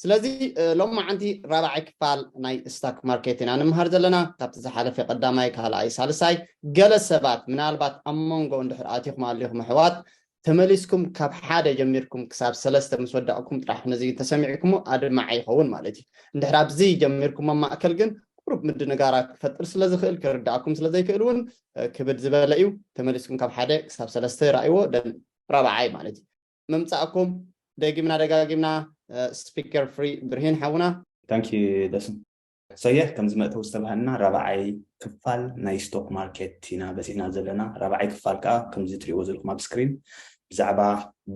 ስለዚ ሎማዓንቲ ራብዓይ ክፋል ናይ ስታክ ማርኬት ኢና ንምሃር ዘለና ካብቲ ዝሓለፈ ቀዳማይ ካልኣይ ሳልሳይ ገለ ሰባት ምናልባት ኣብ መንጎ እንድሕር ኣቲኹም ኣሊኹም ኣሕዋት ተመሊስኩም ካብ ሓደ ጀሚርኩም ክሳብ ሰለስተ ምስ ወዳእኩም ጥራሕ ነዚ ተሰሚዕኩሞ ኣድማዒ ይኸውን ማለት እዩ እንድሕር ኣብዚ ጀሚርኩም ኣብ ማእከል ግን ቁሩብ ምድንጋራት ክፈጥር ስለ ዝኽእል ክርዳእኩም ስለ ዘይክእል እውን ክብድ ዝበለ እዩ ተመሊስኩም ካብ ሓደ ክሳብ ሰለስተ ራእይዎ ደን ራብዓይ ማለት እዩ ምምጻእኩም ደጊምና ደጋጊምና ስፒከር ፍሪ ብርሂን ሓውና። Thank you ደሱ ሰየ ከምዚ መእተዊ ዝተባሃልና ራብዓይ ክፋል ናይ ስቶክ ማርኬት ኢና በጺሕና ዘለና ራብዓይ ክፋል ከኣ ከምዚ ትሪእዎ ዘለኹም ኣብ ስክሪን ብዛዕባ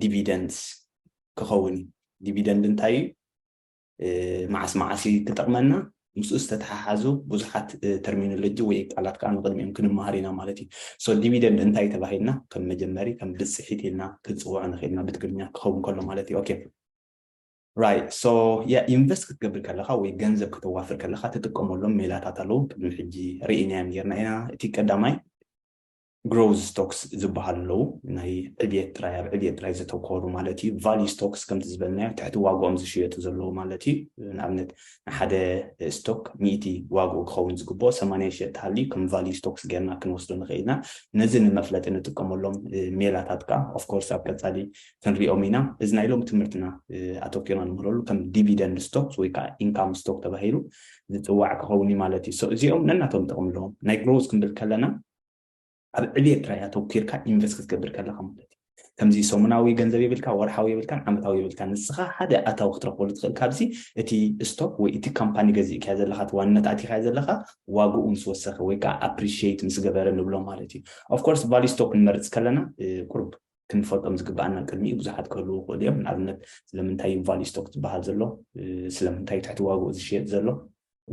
ዲቪደንድስ ክኸውን እዩ ዲቪደንድ እንታይ እዩ መዓስ መዓስ እዩ ክጠቕመና? ምስኡ ዝተተሓሓዙ ብዙሓት ተርሚኖሎጂ ወይ ቃላት ከዓ ንቕድሚኦም ክንመሃር ኢና ማለት እዩ። ሶ ዲቪደንድ እንታይ ተባሂልና ከም መጀመሪ ከም ብፅሒት ኢልና ክንፅውዖ ንኽእል ኢና ብትግርኛ ክኸውን ከሎ ማለት እዩ። ኦኬ ራይት ሶ ያ ኢንቨስት ክትገብር ከለኻ ወይ ገንዘብ ከተዋፍር ከለኻ ትጥቀመሎም ሜላታት ኣለዉ ቅድሚ ሕጂ ርኢናዮም ኔርና ኢና እቲ ቀዳማይ ግሮዝ ስቶክስ ዝበሃሉ ኣለዉ። ናይ ዕብየት ጥራይ ኣብ ዕብየት ጥራይ ዘተኮሩ ማለት እዩ። ቫልዩ ስቶክስ ከምቲ ዝበልናዮ ትሕቲ ዋግኦም ዝሽየጡ ዘለዉ ማለት እዩ። ንኣብነት ንሓደ ስቶክ ሚእቲ ዋግኡ ክኸውን ዝግብኦ ሰማንያ ይሸየጥ ተሃልዩ ከም ቫልዩ ስቶክስ ጌርና ክንወስዶ ንኽእል ኢና። ነዚ ንመፍለጢ ንጥቀመሎም ሜላታት ከኣ ኦፍ ኮርስ ኣብ ቀጻሊ ክንሪኦም ኢና። እዚ ናይ ሎሚ ትምህርትና ኣተኲርና ንምህረሉ ከም ዲቪደንድ ስቶክስ ወይ ከኣ ኢንካም ስቶክ ተባሂሉ ዝጽዋዕ ክኸውን እዩ ማለት እዩ። ሶ እዚኦም ነናቶም ጥቕሚ ኣለዎም። ናይ ግሮዝ ክንብል ከለና ኣብ ዕብየት ጥራይ ኣተኲርካ ኢንቨስት ክትገብር ከለኻ ማለት እዩ። ከምዚ ሰሙናዊ ገንዘብ የብልካ፣ ወርሓዊ የብልካን፣ ዓመታዊ የብልካን። ንስኻ ሓደ ኣታዊ ክትረኽበሉ ትኽእል ካብዚ እቲ ስቶክ ወይ እቲ ካምፓኒ ገዚእካዮ ዘለኻ እቲ ዋንነት ኣእቲኻዮ ዘለኻ ዋግኡ ምስ ወሰኸ ወይ ከኣ ኣፕሪሽየት ምስ ገበረ ንብሎ ማለት እዩ። ኦፍ ኮርስ ቫልዩ ስቶክ ክንመርጽ ከለና ቁሩብ ክንፈልጦም ዝግብኣና ቅድሚ እዩ ብዙሓት ክህልዉ ይኽእሉ እዮም። ንኣብነት ስለምንታይ እዩ ቫልዩ ስቶክ ዝበሃል ዘሎ፣ ስለምንታይ እዩ ትሕቲ ዋግኡ ዝሽየጥ ዘሎ፣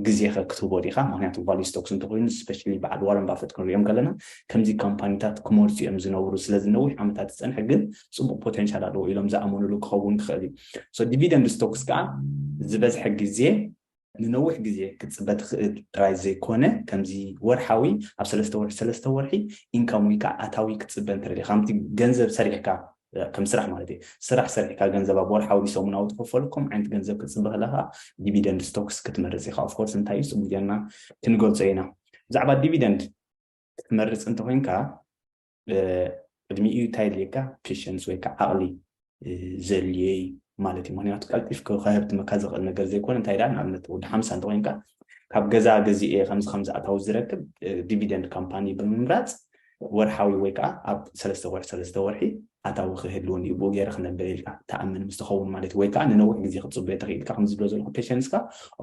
ግዜኸ ክትህቦ ዲኻ? ምኽንያቱ ቫልዩ ስቶክስ እንተኾይኑ ስፐሻሊ በዓል ዋረን ባፈት ክንሪኦም ከለና ከምዚ ካምፓኒታት ክመርጹ እዮም ዝነብሩ። ስለዚ ነዊሕ ዓመታት ዝጸንሐ ግን ጽቡቕ ፖተንሻል ኣለዎ ኢሎም ዝኣመኑሉ ክኸውን ክኽእል እዩ። ሶ ዲቪደንድ ስቶክስ ከኣ ዝበዝሐ ግዜ ንነዊሕ ግዜ ክትጽበ ትኽእል ጥራይ ዘይኮነ ከምዚ ወርሓዊ ኣብ ሰለስተ ወርሒ ሰለስተ ወርሒ ኢንካም ወይ ከኣ ኣታዊ ክትጽበ እንተደሊኻ ከምቲ ገንዘብ ሰሪሕካ ከም ስራሕ ማለት እዩ። ስራሕ ሰሪሕካ ገንዘብ ኣብ ወርሓዊ ድዩ ሰሙናዊ ትኽፈሉ ከም ዓይነት ገንዘብ ክትጽበ ከለኻ ዲቪደንድ ስቶክስ ክትመርጽ ኢኻ። ኦፍኮርስ እንታይ እዩ ጽቡቕ ጌርና ክንገልጾ ኢና። ብዛዕባ ዲቪደንድ ክትመርጽ እንተኾይንካ ቅድሚኡ እንታይ የድልየካ ፔሸንስ ወይ ከዓ ዓቕሊ ዘድልዮ እዩ ማለት እዩ። ምክንያቱ ቀልጢፍ ከህብትመካ ዝኽእል ነገር ዘይኮነ እንታይ ደኣ ንኣብነት ወዲ ሓምሳ እንተኮይንካ ካብ ገዛ ገዚኤ ከምዚ ከምዚ ኣታዊ ዝረክብ ዲቪደንድ ካምፓኒ ብምምራፅ ወርሓዊ ወይ ከኣ ኣብ ሰለስተ ወርሒ ሰለስተ ወርሒ ኣታዊ ክህልውኒ እዩ ብኡ ገይረ ክነብር ኢልካ ትኣምን ምስ ትኸውን ማለት እዩ ወይ ከኣ ንነዊሕ ግዜ ክትጽበዮ ትኽእል ኢልካ ከምዚ ዝብሎ ዘለኹ ፔሸንስካ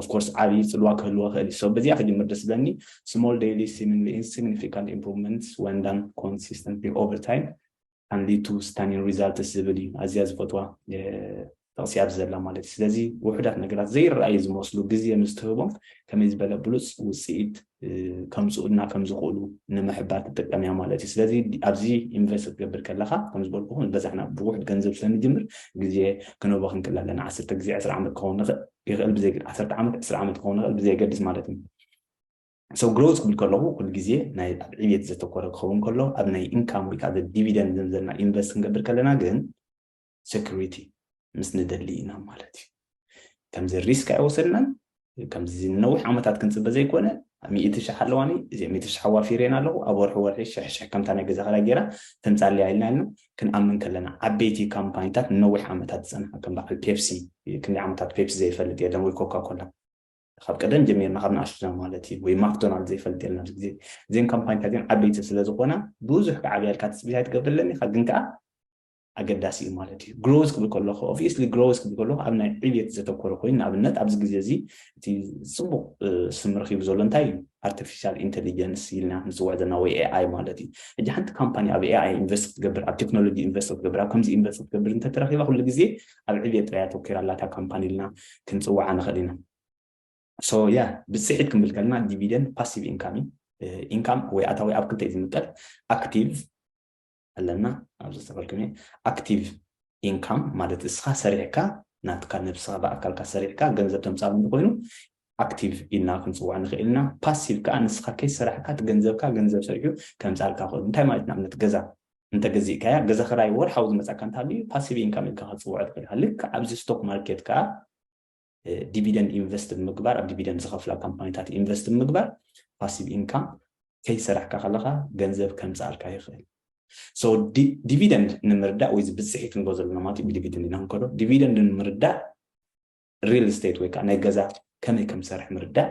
of course ዓቢ ጽልዋ ክህልዎ ይኽእል እዩ so በዚኣ ክጅምር ደስ ዝብለኒ small daily seemingly insignificant improvements when done consistently over time and lead to stunning results ዝብል እዩ ኣዝያ ዝፈትዋ ጥቕሲ ኣብዚ ዘላ ማለት እዩ ስለዚ ውሑዳት ነገራት ዘይረኣዩ ዝመስሉ ግዜ ምስ ትህቦም ከመይ ዝበለ ብሉፅ ውፅኢት ከምፅኡልና ከም ዝኽእሉ ንምሕባር ትጥቀም እያ ማለት እዩ ስለዚ ኣብዚ ኢንቨስት ክትገብር ከለኻ ከም ዝበልኩኹም ዝበዛሕና ብውሑድ ገንዘብ ስለንጅምር ግዜ ክነቦ ክንክል ኣለና ዓሰርተ ግዜ ዕስራ ዓመት ክኸውን ይኽእል ብዘይ ዓሰርተ ዓመት ዕስራ ዓመት ክኸውን ይኽእል ብዘየገድስ ማለት እዩ ሰው ግሮዝ ክብል ከለኹ ኩሉ ግዜ ናይ ኣብ ዕብየት ዘተኮረ ክኸውን ከሎ ኣብ ናይ ኢንካም ወይ ከዓ ዲቪደንድ ዘምዘና ኢንቨስት ክንገብር ከለና ግን ሴኩሪቲ ምስ ንደሊ ኢና ማለት እዩ ከምዚ ሪስክ ኣይወሰድናን ከምዚ ንነዊሕ ዓመታት ክንፅበ ዘይኮነ ሚእቲ ሽሕ ኣለዋኒ እዚ ሚእቲ ሽሕ ኣዋፊሬን ኣለኹ ኣብ ወርሒ ወርሒ ሽሕሽሕ ከምታ ናይ ገዛ ክራይ ገይራ ተምፃልያ ኢልና ኢልና ክንኣምን ከለና ዓበይቲ ካምፓኒታት ንነዊሕ ዓመታት ዝፀንሓ ከም በዓል ፔፕሲ ክንደይ ዓመታት ፔፕሲ ዘይፈልጥ የለን ወይ ኮካኮላ ካብ ቀደም ጀሚርና ካብ ንኣሽቱና ማለት እዩ ወይ ማክዶናልድ ዘይፈልጥ የለን ኣብዚ ግዜ እዘን ካምፓኒታት እዚን ዓበይቲ ስለ ዝኾና ብዙሕ ክዓብያልካ ትፅቢት ኣይትገብርለን ኢኻ ግን ከዓ ኣገዳሲ እዩ ማለት እዩ ግሮዝ ክብል ከለኹ ኦብቪየስሊ ግሮዝ ክብል ከለኹ ኣብ ናይ ዕብየት ዘተኮረ ኮይኑ ንኣብነት ኣብዚ ግዜ እዚ እቲ ፅቡቅ ስም ረኪቡ ዘሎ እንታይ እዩ ኣርቲፊሻል ኢንቴሊጀንስ ኢልና ንፅውዕ ዘለና ወይ ኤኣይ ማለት እዩ ሕጂ ሓንቲ ካምፓኒ ኣብ ኤኣይ ኢንቨስት ክትገብር ኣብ ቴክኖሎጂ ኢንቨስት ክትገብር ኣብ ከምዚ ኢንቨስት ክትገብር እንተተረኪባ ኩሉ ግዜ ኣብ ዕብየት ጥራይ ኣተኲራ ኣላ እታ ካምፓኒ ኢልና ክንጽውዓ ንኽእል ኢና። So yeah ብጽሒት ክንብል ከለና ዲቪደንድ ፓሲቭ ኢንካም እዩ። ኢንካም ወይ ኣታዊ ኣብ ክልተ እዩ ዝምቀል። ኣክቲቭ ኣለና ኣብዚ ዝተፈልኩም እየ። ኣክቲቭ ኢንካም ማለት እስኻ ሰሪሕካ ናትካ ነብስኻ ብኣካልካ ሰሪሕካ ገንዘብ ተምጻሉ እንተኾይኑ ኣክቲቭ ኢልና ክንጽውዖ ንኽእል ኢና። ፓሲቭ ከኣ ንስኻ ከይሰራሕካ እቲ ገንዘብካ ገንዘብ ሰሪሑ ከምጽኣልካ ክእል። እንታይ ማለት እዩ ንኣብነት ገዛ እንተ ገዚእካያ ገዛ ክራይ ወርሓዊ ዝመጻካ እንተሃልዩ ፓሲቭ ኢንካም ኢልካ ክትጽውዖ ትኽእል ኢኻ። ልክዕ ኣብዚ ስቶክ ማርኬት ከኣ ዲቪደንድ ኢንቨስት ብምግባር ኣብ ዲቪደንድ ዝኸፍላ ካምፓኒታት ኢንቨስት ብምግባር ፓሲቭ ኢንካም ከይሰራሕካ ከለኻ ገንዘብ ከምጽኣልካ ይኽእል። ሶ ዲቪደንድ ንምርዳእ ወይ እዚ ብጽሒት ንብሎ ዘለና ማለት እዩ ብዲቪደንድ ኢና ክንከዶ ዲቪደንድ ንምርዳእ ሪል ስቴት ወይ ከዓ ናይ ገዛ ከመይ ከም ዝሰርሕ ምርዳእ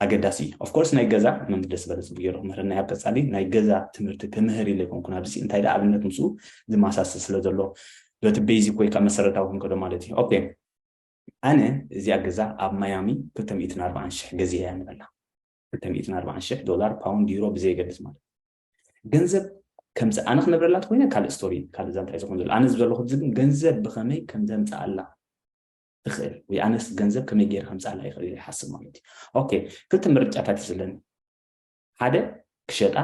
ኣገዳሲ እዩ ኦፍ ኮርስ ናይ ገዛ መምህር ደስ ዝበለ ፅቡቅ ገይሩ ክምህረና ኣብ ቀፃሊ ናይ ገዛ ትምህርቲ ክምህር ኢለ ኣይኮንኩን ኣብዚ እንታይ ዳ ኣብነት ምስኡ ዝመሳሰል ስለ ዘሎ በቲ ቤዚክ ወይ ከዓ መሰረታዊ ክንከዶ ማለት እዩ ኦኬ ኣነ እዚኣ ገዛ ኣብ ማያሚ 240 ሽሕ ገዚኣ እያ ንበላ 240 ሽሕ ዶላር ፓውንድ ዩሮ ብዘየገድስ ማለት ገንዘብ ከምዚ ኣነ ክነብረላ ተኮይነ ካልእ ስቶሪ እዩ ካልእ ዛንታ እዩ ዝኮን ዘሎ ኣነ ዝበለኩ ሕዚ ግን ገንዘብ ብከመይ ከም ዘምፅኣላ ትኽእል ወይ ኣነስ ገንዘብ ከመይ ገይረ ከምፅኣላ ይኽእል ኢለ ይሓስብ ማለት እዩ ኦኬ ክልተ ምርጫታት እዩ ዘለኒ ሓደ ክሸጣ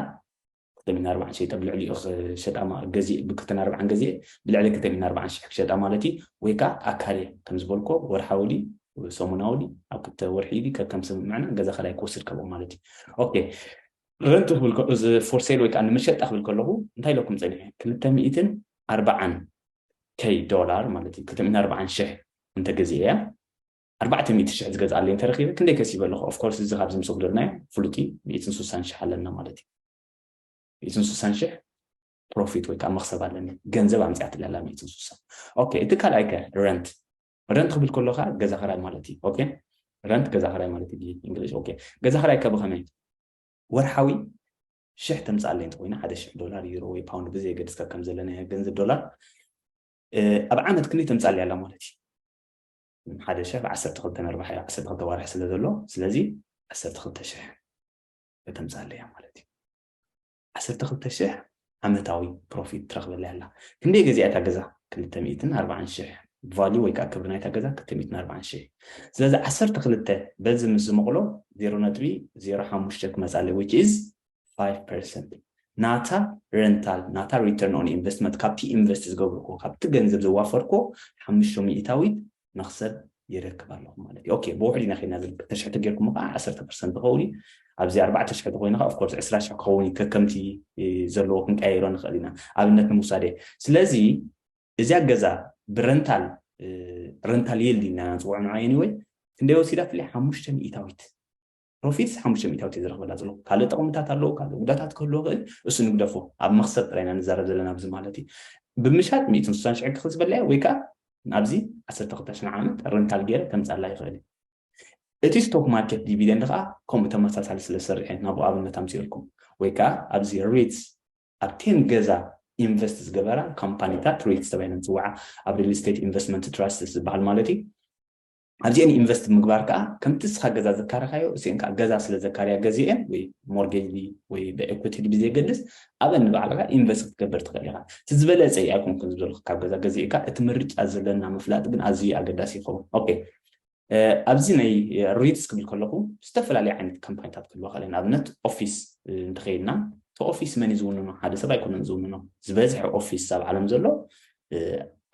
ክልተ ሚና ኣርባዓን ሸይጠ ብልዕሊኡ ክሸጣ ገዚእ ብክልተን ኣርባዓን ገዚኤ ብልዕሊ ክልተ ሚና ኣርባዓን ሽሕ ክሸጣ ማለት እዩ ወይ ከዓ ኣካርየ ከም ዝበልኮ ወርሓዊ ድዩ ሰሙናዊ ድዩ ኣብ ክልተ ወርሒ ድዩ ከከም ስምምዕና ገዛ ካልኣይ ክወስድ ካብኦም ማለት እዩ ኦኬ ረንት ክብል ከ እዚ for sale ወይ ከኣ ንመሸጣ ክብል ከለኹ እንታይ ኢለኩም ጸኒሐ ክልተ ሚእትን ኣርባዓን ከይ ዶላር ማለት እዩ ክልተ ሚእትን ኣርባዓን ሽሕ እንተ ገዚኤያ ኣርባዕተ ሚእቲ ሽሕ ዝገዝኣለይ እንተ ረኺበ ክንደይ ከሲበ ኣለኹ of course እዚ ካብዚ ምስ ወግደርናዮ ፍሉጥ እዩ ሚእትን ስሳን ሽሕ ኣለና ማለት እዩ ሚእትን ስሳን ሽሕ ፕሮፊት ወይ ከኣ መኽሰብ ኣለኒ ገንዘብ ኣምጺኣትለይ ኣላ ሚእትን ስሳ ኦኬ እቲ ካልኣይ ከ ረንት ረንት ክብል ከሎ ከዓ ገዛ ክራይ ማለት እዩ ኦኬ ረንት ገዛ ክራይ ማለት እዩ ብእንግሊሽ ኦኬ ገዛ ክራይ ከ ብከመይ ወርሓዊ ሽሕ ተምፅኣለይ እንተኮይኑ ሓደ ሽሕ ዶላር ዩሮ ወይ ፓውንድ ብዘየገድስ ካብ ከም ዘለናዮ ገንዘብ ዶላር ኣብ ዓመት ክንደይ ተምፅኣለይ ኣላ ማለት እዩ ሓደ ሽሕ ዓሰርተ ክልተ ነርባሕ እያ ዓሰርተ ክልተ ዋርሒ ስለ ዘሎ ስለዚ ዓሰርተ ክልተ ሽሕ ከተምፅኣለይ እያ ማለት እዩ ዓሰርተ ክልተ ሽሕ ዓመታዊ ፕሮፊት ትረክበለይ ኣላ ክንደይ ገዚኣ እታ ገዛ ክልተ ሚእትን ኣርባዓን ሽሕ ቫልዩ ወይ ከኣ ክብሪ ናይታ ገዛ ክልተ ሚእትን ኣርባዓን ሽሕ ስለዚ ዓሰርተ ክልተ በዚ ምስ ዝምቕሎ ዜሮ ነጥቢ ዜሮ ሓሙሽተ ክመጻለይ which is ፋይቭ ፐርሰንት ናታ ረንታል ናታ ሪተርን ኦን ኢንቨስትመንት ካብቲ ኢንቨስት ዝገብርኩዎ ካብቲ ገንዘብ ዘዋፈርኩዎ ሓሙሽተ ሚእታዊት መኽሰብ የረክብ ኣለኹ ማለት እዩ ኦኬ ብውሕድ ኢና ከይድና ዝብል ክልተ ሽሕ ተጌርኩሞ ከዓ ዓሰርተ ፐርሰንት ክኸውን እዩ ኣብዚ ኣርባዕተ ሽሕ ተኮይኑ ከዓ ኦፍኮርስ ዕስራ ሽሕ ክኸውን እዩ ከከምቲ ዘለዎ ክንቀያይሮ ንኽእል ኢና ኣብነት ንምውሳደ ስለዚ እዚያ ገዛ ብረንታል ረንታል ይልድ ኢና ንፅውዖ ንዓ ኤኒወይ ክንደይ ወሲዳ ፍሊ ሓሙሽተ ሚእታዊት ፕሮፊት ሓሙሽተ ሚእታዊት እየ ዝረኽበላ ዘለኹ ካልእ ጠቕምታት ኣለዎ ካልእ ጉዳታት ክህልዎ ይኽእል እሱ ንግደፎ ኣብ መኽሰብ ጥራይ ኢና ንዛረብ ዘለና ኣብዚ ማለት እዩ ብምሻጥ ሚእትን ስሳን ሽሕ ክኽል ዝበላየ ወይ ከዓ ናብዚ ዓሰርተ ክልተ ሽሕ ዓመት ረንታል ገይረ ከምፅኣላ ይኽእል እዩ እቲ ስቶክ ማርኬት ዲቪደንድ ከዓ ከምኡ ተመሳሳሊ ስለ ዝሰርሕ እየ ናብኡ ኣብነት ኣምፅኦልኩም ወይ ከዓ ኣብዚ ሪትስ ኣብ ቴን ገዛ ኢንቨስት ዝገበራ ካምፓኒታት ሪትስ ተባሂለን ዝፅዋዓ ኣብ ሪል ስቴት ኢንቨስትመንት ትራስትስ ዝበሃል ማለት እዩ ኣብዚኤን ኢንቨስት ምግባር ከዓ ከምቲ እስኻ ገዛ ዘካረኻዮ እሲኤን ከዓ ገዛ ስለ ዘካርያ ገዚኤን ወይ ሞርጌጅ ድዩ ወይ ብኤኩቲ ድዩ ብዘየገድስ ኣብኤን ንባዕልኻ ኢንቨስት ክትገብር ትኽእል ኢኻ እቲ ዝበለፀ እዩ ኣይኮንኩን ዝበልኩ ካብ ገዛ ገዚእካ እቲ ምርጫ ዘለና ምፍላጥ ግን ኣዝዩ እዩ ኣገዳሲ ይኸውን ኦኬ ኣብዚ ናይ ሪትስ ክብል ከለኹ ዝተፈላለዩ ዓይነት ካምፓኒታት ክህልዋ ከለ ንኣብነት ኦፊስ እንተኸይድና እቲ ኦፊስ መን እዩ ዝውንኖ ሓደ ሰብ ኣይኮነን ዝውንኖ ዝበዝሐ ኦፊስ ኣብ ዓለም ዘሎ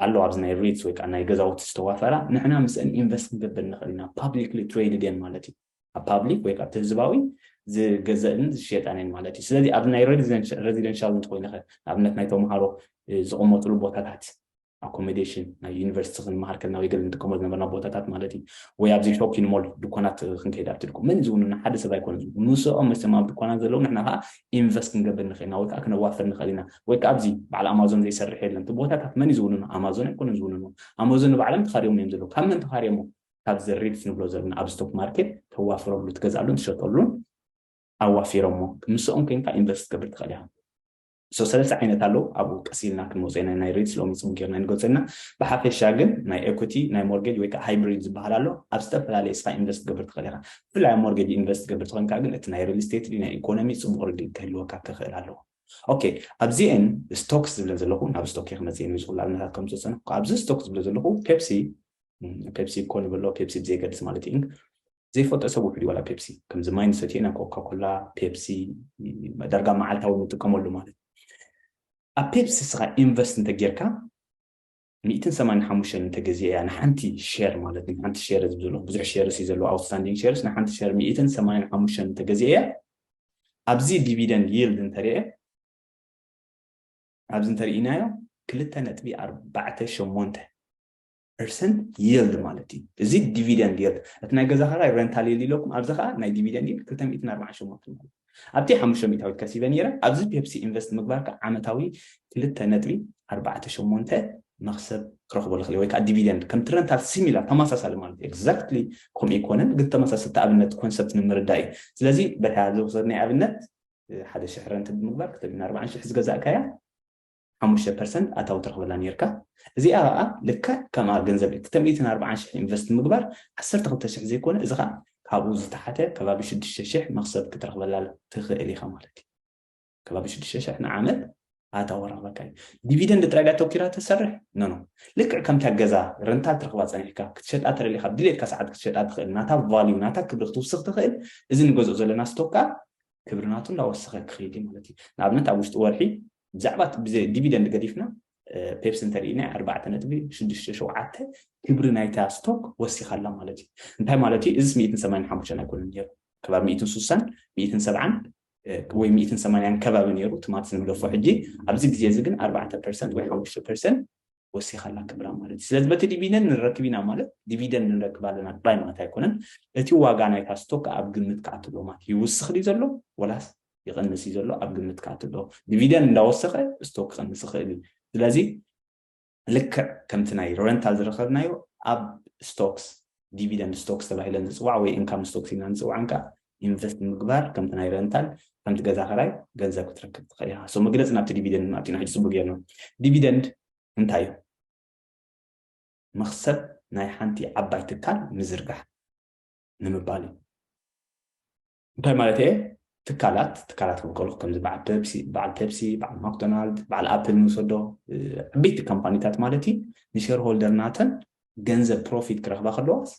ኣሎ ኣብዚ ናይ ሪትስ ወይ ከኣ ናይ ገዛውቲ ዝተዋፈራ ንሕና ምስእን ኢንቨስት ክንገብር ንኽእል ኢና ፓብሊክሊ ትሬድድ እየን ማለት እዩ ኣብ ፓብሊክ ወይ ከኣ ብህዝባዊ ዝገዘእን ዝሸጣን እየን ማለት እዩ ስለዚ ኣብዚ ናይ ረዚደንሻል እንተኾይንኸ ንኣብነት ናይ ተምሃሮ ዝቕመጥሉ ቦታታት ኣኮሞዴሽን ናይ ዩኒቨርሲቲ ክንመሃር ከልና ወይ ገለ ንጥቀሞ ዝነበርና ቦታታት ማለት እዩ ወይ ኣብዚ ሾፒን ሞል ድኳናት ክንከይድ ኣብቲ ድኳ መን ዝውንና ሓደ ሰብ ኣይኮነ ምስኦም መቸም ኣብ ድኳናት ዘለዉ ንሕና ከዓ ኢንቨስት ክንገብር ንኽእል ኢና ወይ ከዓ ክነዋፍር ንኽእል ኢና ወይ ከዓ ኣብዚ በዓል ኣማዞን ዘይሰርሕ የለን ትቦታታት መን እዩ ዝውንኖ ኣማዞን ኣይኮነን ዝውንኖ ኣማዞን ንባዕሎም ተኻርዮም እዮም ዘለዉ ካብ መን ተኻርዮሞ ካብዚ ሪድስ ንብሎ ዘለና ኣብ ስቶክ ማርኬት ተዋፍረሉ ትገዝኣሉን ትሸጠሉን ኣዋፊሮሞ ምስኦም ኮይንካ ኢንቨስት ትገብር ትኽእል ኢኻ ሶ ሰለስተ ዓይነት ኣለዉ ኣብኡ ቀስ ኢልና ክንወፆ ኢና ናይ ሬትስ ሎሚ ፅም ጌርና ንገልፆ ኢና ብሓፈሻ ግን ናይ ኤኩቲ ናይ ሞርጌጅ ወይ ከዓ ሃይብሪድ ዝበሃል ኣሎ ኣብ ዝተፈላለየ ስኻ ኢንቨስት ትገብር ትኽእል ኢኻ ብፍላይ ኣብ ሞርጌጅ ኢንቨስት ትገብር ተኮይንካ ግን እቲ ናይ ሪልስቴት ድዩ ናይ ኢኮኖሚ ጽቡቅ ርድኢት ክህልወካ ክክእል ኣለዎ። ኦኬ ኣብዚኤን ስቶክስ ዝብለን ዘለኩ ናብ ስቶክ እየ ክመጽእ ንዚ ኩሉ ኣብነታት ከም ዝጸጸንኩ ኣብዚ ስቶክ ዝብሎ ዘለኩ ፔፕሲ ፔፕሲ ኮ ንበሎ ፔፕሲ ብዘይገድስ ማለት ኢንክ ዘይፈልጦ ሰብ ውሕድ ዋላ ፔፕሲ ከምዚ ማይ ንሰትዮ ኢና ኮካኮላ ፔፕሲ ዳርጋ መዓልታዊ ንጥቀመሉ ማለት ኣብ ፔፕሲ ስኻ ኢንቨስት እንተጌርካ ሚእትን ሰማንያን ሓሙሽተን እንተ ገዚኤያ ንሓንቲ ሸር ማለት እዩ ንሓንቲ ሸር ዝብ ዘሎ ብዙሕ ሸርስ እዩ ዘለዎ ኣውትስታንዲንግ ሸርስ ንሓንቲ ሸር ሚእትን ሰማንያን ሓሙሽተን እንተ ገዚኤያ ኣብዚ ዲቪደንድ ይልድ እንተሪኤ ኣብዚ እንተርኢናዮ ክልተ ነጥቢ ኣርባዕተ ሸሞንተ ፐርሰንት ይልድ ማለት እዩ እዚ ዲቪደንድ ይልድ እቲ ናይ ገዛ ከራይ ረንታል ይልድ ኢለኩም ኣብዚ ከዓ ናይ ዲቪደንድ ይልድ ክልተ ሚእትን ኣርባዓን ሸሞንተ ማለት ኣብቲ ሓሙሽተ ሚእታዊት ከሲበ ነይረ፣ ኣብዚ ፔፕሲ ኢንቨስት ምግባርካ ዓመታዊ ክልተ ነጥቢ ኣርባዕተ ሸሞንተ መኽሰብ ክረኽቦ ልኽል እየ ወይ ከኣ ዲቪደንድ ከምቲ ረንታል ሲሚላር ተማሳሳሊ ማለት እዩ ኤግዛክትሊ ከምኡ ኣይኮነን ግን ተመሳሰልቲ ኣብነት ኮንሰፕት ንምርዳእ እዩ ስለዚ በታ ዝወሰድናይ ኣብነት ሓደ ሽሕ ረንት ብምግባር ክተሚን ኣርባዓን ሽሕ ዝገዛእካያ ሓሙሽተ ፐርሰንት ኣታዊ ትረኽበላ ኔርካ እዚኣ ከኣ ልክዕ ከምኣ ገንዘብ እቲ ሚእትን ኣርብዓን ሽሕ ኢንቨስት ምግባር ዓሰርተ ክልተ ሽሕ ዘይኮነ እዚ ከኣ ካብኡ ዝተሓተ ከባቢ ሽዱሽተ ሽሕ መኽሰብ ክትረኽበላ ትኽእል ኢኻ ማለት እዩ ከባቢ ሽዱሽተ ሽሕ ንዓመት ኣታዊ ረኽበካ እዩ ዲቪደንድ ጥራይ ድያ ተኪራ ተሰርሕ ኖኖ ልክዕ ከምታ ገዛ ረንታል ትረኽባ ጸኒሕካ ክትሸጣ ተደሊኻ ኣብ ድሌትካ ሰዓት ክትሸጣ ትኽእል ናታ ቫልዩ ናታ ክብሪ ክትውስኽ ትኽእል እዚ ንገዝኦ ዘለና ስቶካ ክብሪ ናቱ እንዳወሰኸ ክኸይድ እዩ ማለት እዩ ንኣብነት ኣብ ውሽጢ ወርሒ ብዛዕባ ዲቪደንድ ገዲፍና ፔፕሲ እንተሪእና ኣርባዕተ ነጥቢ ሽዱሽተ ሸውዓተ ክብሪ ናይታ ስቶክ ወሲኻ ኣላ ማለት እዩ እንታይ ማለት እዩ እዚስ ሚእትን ሰማንያን ሓሙሽተን ኣይኮነን ነይሩ ከባቢ ሚእትን ስሳን ሚእትን ሰብዓን ወይ ሚእትን ሰማንያን ከባቢ ነይሩ ትማት ዝንገፎ ሕጂ ኣብዚ ግዜ እዚ ግን ኣርባዕተ ፐርሰንት ወይ ሓሙሽተ ፐርሰንት ወሲኻላ ክብራ ማለት እዩ። ስለዚ በቲ ዲቪደንድ ንረክብ ኢና ማለት ዲቪደንድ ንረክብ ኣለና ጥራይ ማለት ኣይኮነን። እቲ ዋጋ ናይታ ስቶክ ከኣ ኣብ ግምት ክኣቱ ኣለዎ ማለት እዩ። ይውስኽ ድዩ ዘሎ ወላስ ይቕንስ እዩ ዘሎ ኣብ ግምት ክኣቱ ኣለዎ። ዲቪደንድ እንዳወሰኸ ስቶክ ክቕንስ ይኽእል እዩ። ስለዚ ልክዕ ከምቲ ናይ ረንታል ዝረኸብናዮ ኣብ ስቶክስ ዲቪደንድ ስቶክስ ተባሂለን ዝፅዋዕ ወይ ኢንካም ስቶክስ ኢልና ንፅውዐን ከኣ ኢንቨስት ንምግባር ከምቲ ናይ ረንታል ከምቲ ገዛ ክራይ ገንዘብ ክትረክብ ትኽእል ኢኻ so መግለጺ ናብቲ ዲቪደንድ ድማ ኣቲና ሕጂ ጽቡቅ ጌርና ዲቪደንድ እንታይ እዩ መኽሰብ ናይ ሓንቲ ዓባይ ትካል ምዝርጋሕ ንምባል እዩ እንታይ ማለት እየ ትካላት ትካላት ክብል ከለኩ ከምዚ በዓል ፔፕሲ በዓል ፔፕሲ በዓል ማክዶናልድ በዓል ኣፕል ንውሰዶ ዓበይቲ ካምፓኒታት ማለት እዩ ንሸር ሆልደር ናተን ገንዘብ ፕሮፊት ክረክባ ከለዋስ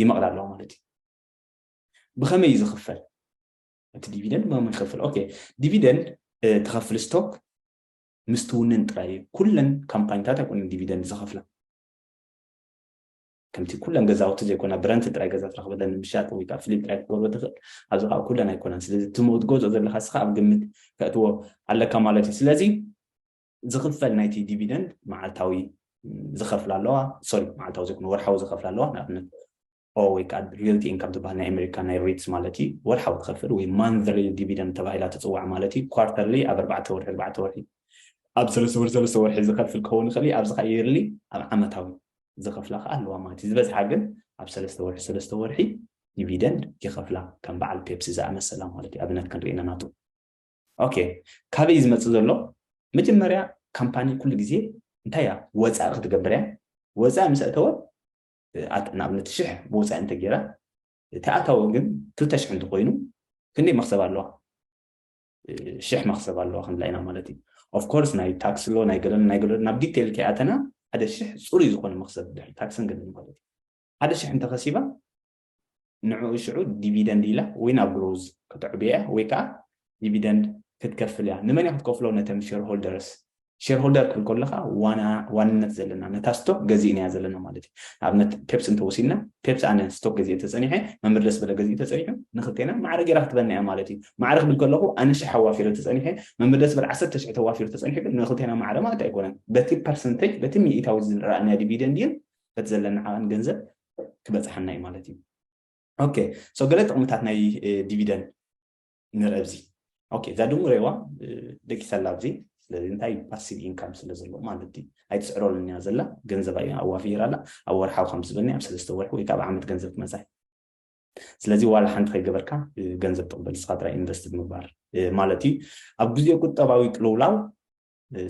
ይመቕዳ ኣለዋ ማለት እዩ ብኸመይ እዩ ዝኽፈል እቲ ዲቪደንድ ብኸመይ ይኸፍል ኦኬ ዲቪደንድ ተኸፍል ስቶክ ምስ ትውንን ጥራይ እዩ ኩለን ካምፓኒታት ኣይኮነን ዲቪደንድ ዝኸፍላ ከምቲ ኩለን ገዛውቲ ዘይኮና ብረንቲ ጥራይ ገዛ ትረኽበለን ምሻጥ ወይ ከዓ ፍሊፕ ጥራይ ክትገብሮ ትኽእል ኣብዚ ከዓ ኩለን ኣይኮነን ስለዚ ትገዝኦ ዘለካ ስኻ ኣብ ግምት ከእትዎ ኣለካ ማለት እዩ ስለዚ ዝኽፈል ናይቲ ዲቪደንድ መዓልታዊ ዝኸፍላ ኣለዋ ሶሪ መዓልታዊ ዘይኮነ ወርሓዊ ዝኸፍላ ኣለዋ ንኣብነት ኦኦ ወይ ከኣ ሪልቲ ኢንካም ትበሃል ናይ ኣሜሪካ ናይ ሪትስ ማለት እዩ ወርሓዊ ትኸፍል ወይ ማንዝሊ ዲቪደንድ ተባሂላ ትጽዋዕ ማለት እዩ ኳርተርሊ ኣብ ኣርባዕተ ወርሒ ኣርባዕተ ወርሒ ኣብ ሰለስተ ወርሒ ሰለስተ ወርሒ ዝኸፍል ክኸውን ይኽእል እዩ ኣብዚ ከኣ የርሊ ኣብ ዓመታዊ ዝኸፍላ ከኣ ኣለዋ ማለት እዩ ዝበዝሓ ግን ኣብ ሰለስተ ወርሒ ሰለስተ ወርሒ ዲቪደንድ ይኸፍላ ከም በዓል ፔፕሲ ዝኣመሰላ ማለት እዩ ኣብነት ክንርኢ ኢና ናቱ ኦኬ ካበይ ዝመፅእ ዘሎ መጀመርያ ካምፓኒ ኩሉ ግዜ እንታይ እያ ወፃኢ ክትገብር እያ ወፃኢ ምስ ኣእተወ ንኣብነት ሽሕ ብወፃኢ እንተገይራ እቲ ኣታዊ ግን ክልተ ሽሕ እንተኮይኑ ክንደይ መክሰብ ኣለዋ ሽሕ መክሰብ ኣለዋ ክንብላ ኢና ማለት እዩ ኦፍኮርስ ናይ ታክሲ ሎ ናይ ገለን ናይ ገለን ናብ ዲቴይል ከይኣተና ሓደ ሽሕ ፅሩይ ዝኾነ መክሰብ ድሕሪ ታክስን ገለን ማለት እዩ ሓደ ሽሕ እንተኸሲባ ንዕኡ ሽዑ ዲቪደንድ ኢላ ወይ ናብ ግሮዝ ከተዕብዮ እያ ወይ ከኣ ዲቪደንድ ክትከፍል እያ። ንመን እያ ክትከፍሎ ነተን ሸርሆልደርስ። ሸርሆልደር ክትብል ከለኻ ዋና ዋንነት ዘለና ነታ ስቶክ ገዚእናያ ዘለና ማለት እዩ። ንኣብነት ፔፕሲ እንተወሲድና ፔፕሲ ኣነ ስቶክ ገዚኤ ተጸኒሐ መምህር ደስበለ ገዚኡ ተጸኒሑ ንኽልቴና ማዕረ ገይራ ክትበና እያ ማለት እዩ። ማዕረ ክብል ከለኹ ኣነ ሽሕ ኣዋፊረ ተጸኒሐ መምህር ደስበለ ዓሰርተ ሽሕ ተዋፊሩ ተጸኒሑ ግን ንኽልቴና ማዕረ ማለት ኣይኮነን። በቲ ፐርሰንተጅ በቲ ሚኢታዊ ዝረኣናዮ ዲቪደንድን በቲ ዘለና ዓቐን ገንዘብ ክበጽሓና እዩ ማለት እዩ ኦኬ ሶ ገለ ጥቕምታት ናይ ዲቪደን ንርአ ኣብዚ ኦኬ እዛ ድሙ ሬዋ ደቂሰላ ኣብዚ ስለዚ እንታይ ፓሲቭ ኢንካም ስለ ዘሎ ማለት እዩ ኣይትስዕረሉን እያ ዘላ ገንዘባ እያ ኣዋፊራ ኣላ ኣብ ወርሓዊ ከም ዝበኒ ኣብ ሰለስተ ወርሒ ወይ ከዓ ኣብ ዓመት ገንዘብ ክመፃ ስለዚ ዋላ ሓንቲ ከይገበርካ ገንዘብ ትቕበል ንስኻ ጥራይ ኢንቨስት ብምግባር ማለት እዩ ኣብ ግዜ ቁጠባዊ ቅልውላው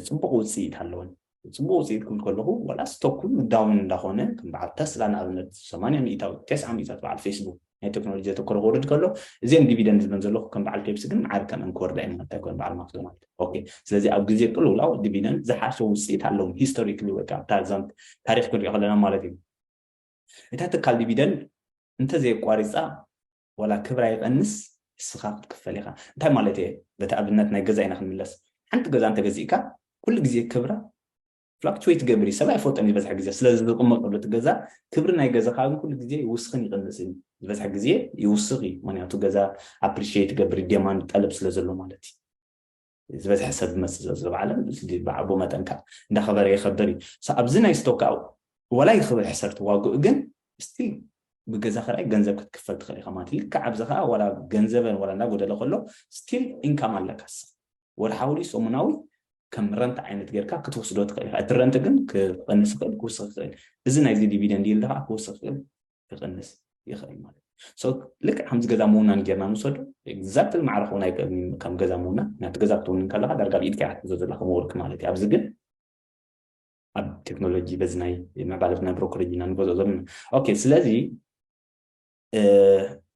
ፅቡቕ ውፅኢት ኣለወን። ፅቡቕ ውፅኢት ክብል ከለኹ ዋላስ ቶኩን ምዳውንን እንዳኾነ ከም በዓል ተስላ ንኣብነት ሰማንያ ሚኢታዊት ተስዓ ሚኢታዊት በዓል ፌስቡክ ናይ ቴክኖሎጂ ዘተኮረ ክወርድ ከሎ እዚኤን ዲቪደንድ ዝብለን ዘለኹ ከም በዓል ፔፕሲ ግን መዓር ከምኤን ክወርዳ እየን ማለት ኣይኮነን በዓል ማክዶናልድ ኦኬ ስለዚ ኣብ ግዜ ቅልውላው ዲቪደንድ ዝሓሸ ውፅኢት ኣለዎም ሂስቶሪክሊ ወይ ከዓ ታዛም ታሪክ ክንሪኦ ከለና ማለት እዩ እታ ትካል ዲቪደንድ እንተዘየቋሪፃ ዋላ ክብራ ይቀንስ ንስኻ ክትክፈል ኢኻ እንታይ ማለት እየ በቲ ኣብነት ናይ ገዛ ኢና ክንምለስ ሓንቲ ገዛ እንተ ገዚእካ ኩሉ ግዜ ክብራ ፍላክቹዌት ይገብር እዩ ሰብ ኣይፈልጦን ዝበዝሐ ግዜ ስለ ዝቕመጠሉ እቲ ገዛ ክብሪ ናይ ገዛኻ ግን ኩሉ ግዜ ይውስኽን ይቕንስን እዩ ዝበዝሐ ግዜ ይውስኽ እዩ ምክንያቱ ገዛ ኣፕሪሽት ይገብር ዴማንድ ጠለብ ስለ ዘሎ ማለት እዩ ዝበዝሐ ሰብ ዝመፅእ ዘሎ ዘሎ ዓለም ብዓቦ መጠን ከዓ እንዳኸበረ ይኸበር እዩ ኣብዚ ናይ ስቶክ ከዓ ወላ ይኽብር ሕሰርት ዋግኡ ግን ስቲል ብገዛ ክራይ ገንዘብ ክትክፈል ትኽእል ኢኻ ማለት ልክዕ ኣብዚ ከዓ ወላ ገንዘበን ወላ እንዳጎደለ ከሎ ስቲል ኢንካም ኣለካ ስኻ ወርሓዊ ድዩ ሰሙናዊ ከም ረንት ዓይነት ጌርካ ክትወስዶ ትኽእል ኢኻ እቲ ረንት ግን ክቐንስ ይኽእል ክውስኽ ይኽእል እዚ ናይዚ ዲቪደንድ ይልድ ከዓ ክውስኽ ይኽእል ክቕንስ ይኽእል ማለት እዩ ሶ ልክዕ ከምዚ ገዛ ምውናን ጌርና ንውሰዱ ኤግዛክትሊ ማዕረ ክውን ኣይክእልን እዩ ከም ገዛ ምውናን ናቲ ገዛ ክትውንን ከለካ ዳርጋ ኣብ ኢድካ ክትሕዞ ዘላ ከም ወርቂ ማለት እዩ ኣብዚ ግን ኣብ ቴክኖሎጂ በዚ ናይ ምዕባለት ናይ ብሮኮሎጂ ኢና ንገዝኦ ዘለና ኦኬ ስለዚ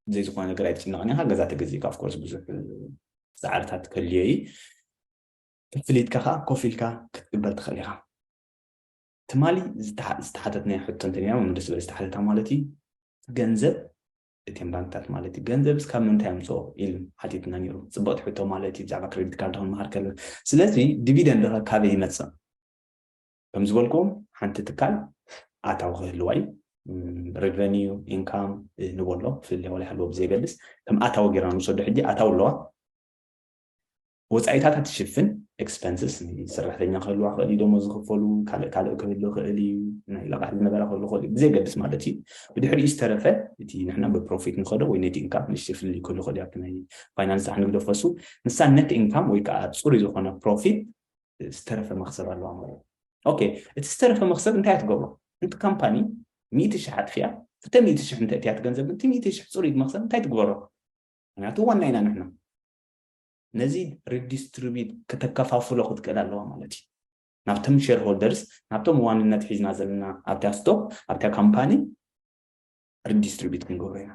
ብዘይ ዝኾነ ነገር ኣይትጭነቕን ኢኻ ገዛ ተገዚእካ ኣፍኮርስ ብዙሕ ፃዕርታት ከልዮ እዩ ፍሊትካ ከዓ ኮፍ ኢልካ ክትቅበል ትኽእል ኢኻ ትማሊ ዝተሓተትናዮ ሕቶ እንተኒና መምህር ደስ ዝበለ ዝተሓተታ ማለት እዩ ገንዘብ እተን ባንክታት ማለት እዩ ገንዘብስ ካብ ምንታይ ኣምፅኦ ኢሉ ሓቲትና ነይሩ ፅብቕቲ ሕቶ ማለት እዩ ብዛዕባ ክሬዲት ካርድ ክንመሃር ከለና ስለዚ ዲቪደንድ ኸ ካበይ ይመፅእ ከም ዝበልኩም ሓንቲ ትካል ኣታዊ ክህልዋ እዩ ሬቨኒዩ ኢንካም ንበሎ ፍልልያ ወላ ይሃልዎ ብዘየገድስ ከም ኣታዊ ጌርና ንውሰዶ ሕጂ ኣታዊ ኣለዋ ወጻኢታታ ትሽፍን፣ Expenses፣ ናይ ሰራሕተኛ ክህልዋ ክኽእል እዩ፣ ደሞዝ ዝኽፈሉ፣ ካልእ ካልእ ክህሉ ይኽእል እዩ፣ ናይ ለቓሕ ዝነበራ ክህሉ ይኽእል እዩ፣ ብዘየገድስ ማለት እዩ። ብድሕሪኡ ዝተረፈ እቲ ንሕና ብፕሮፊት ንኸዶ ወይ ኔት ኢንካም ንእሽተይ ፍልልይ ክህሉ ይኽእል እዩ ኣብቲ ናይ ፋይናንስ ጻሕ ንግዶ ፈሱ ንሳ ኔት ኢንካም ወይ ከኣ ጽሩይ ዝኾነ ፕሮፊት ዝተረፈ መኽሰብ ኣለዋ ማለት እዩ። ኦኬ እቲ ዝተረፈ መኽሰብ እንታይ እያ ትገብሮ? እንቲ ካምፓኒ ሚእቲ ሽሕ ኣጥፊኣ እተ ሚእቲ ሽሕ እንተ እትያ ትገንዘብ ግን እቲ ሚእቲ ሽሕ ጽሩይ መኽሰብ እንታይ ትግበሮ? ምክንያቱ ዋና ኢና ንሕና። ነዚ ሪዲስትሪቢዩት ከተከፋፍሎ ክትክእል ኣለዋ ማለት እዩ ናብቶም ሼር ሆልደርስ ናብቶም ዋንነት ሒዝና ዘለና ኣብታ ስቶክ ኣብታ ካምፓኒ ሪዲስትሪቢዩት ክንገብሮ ኢና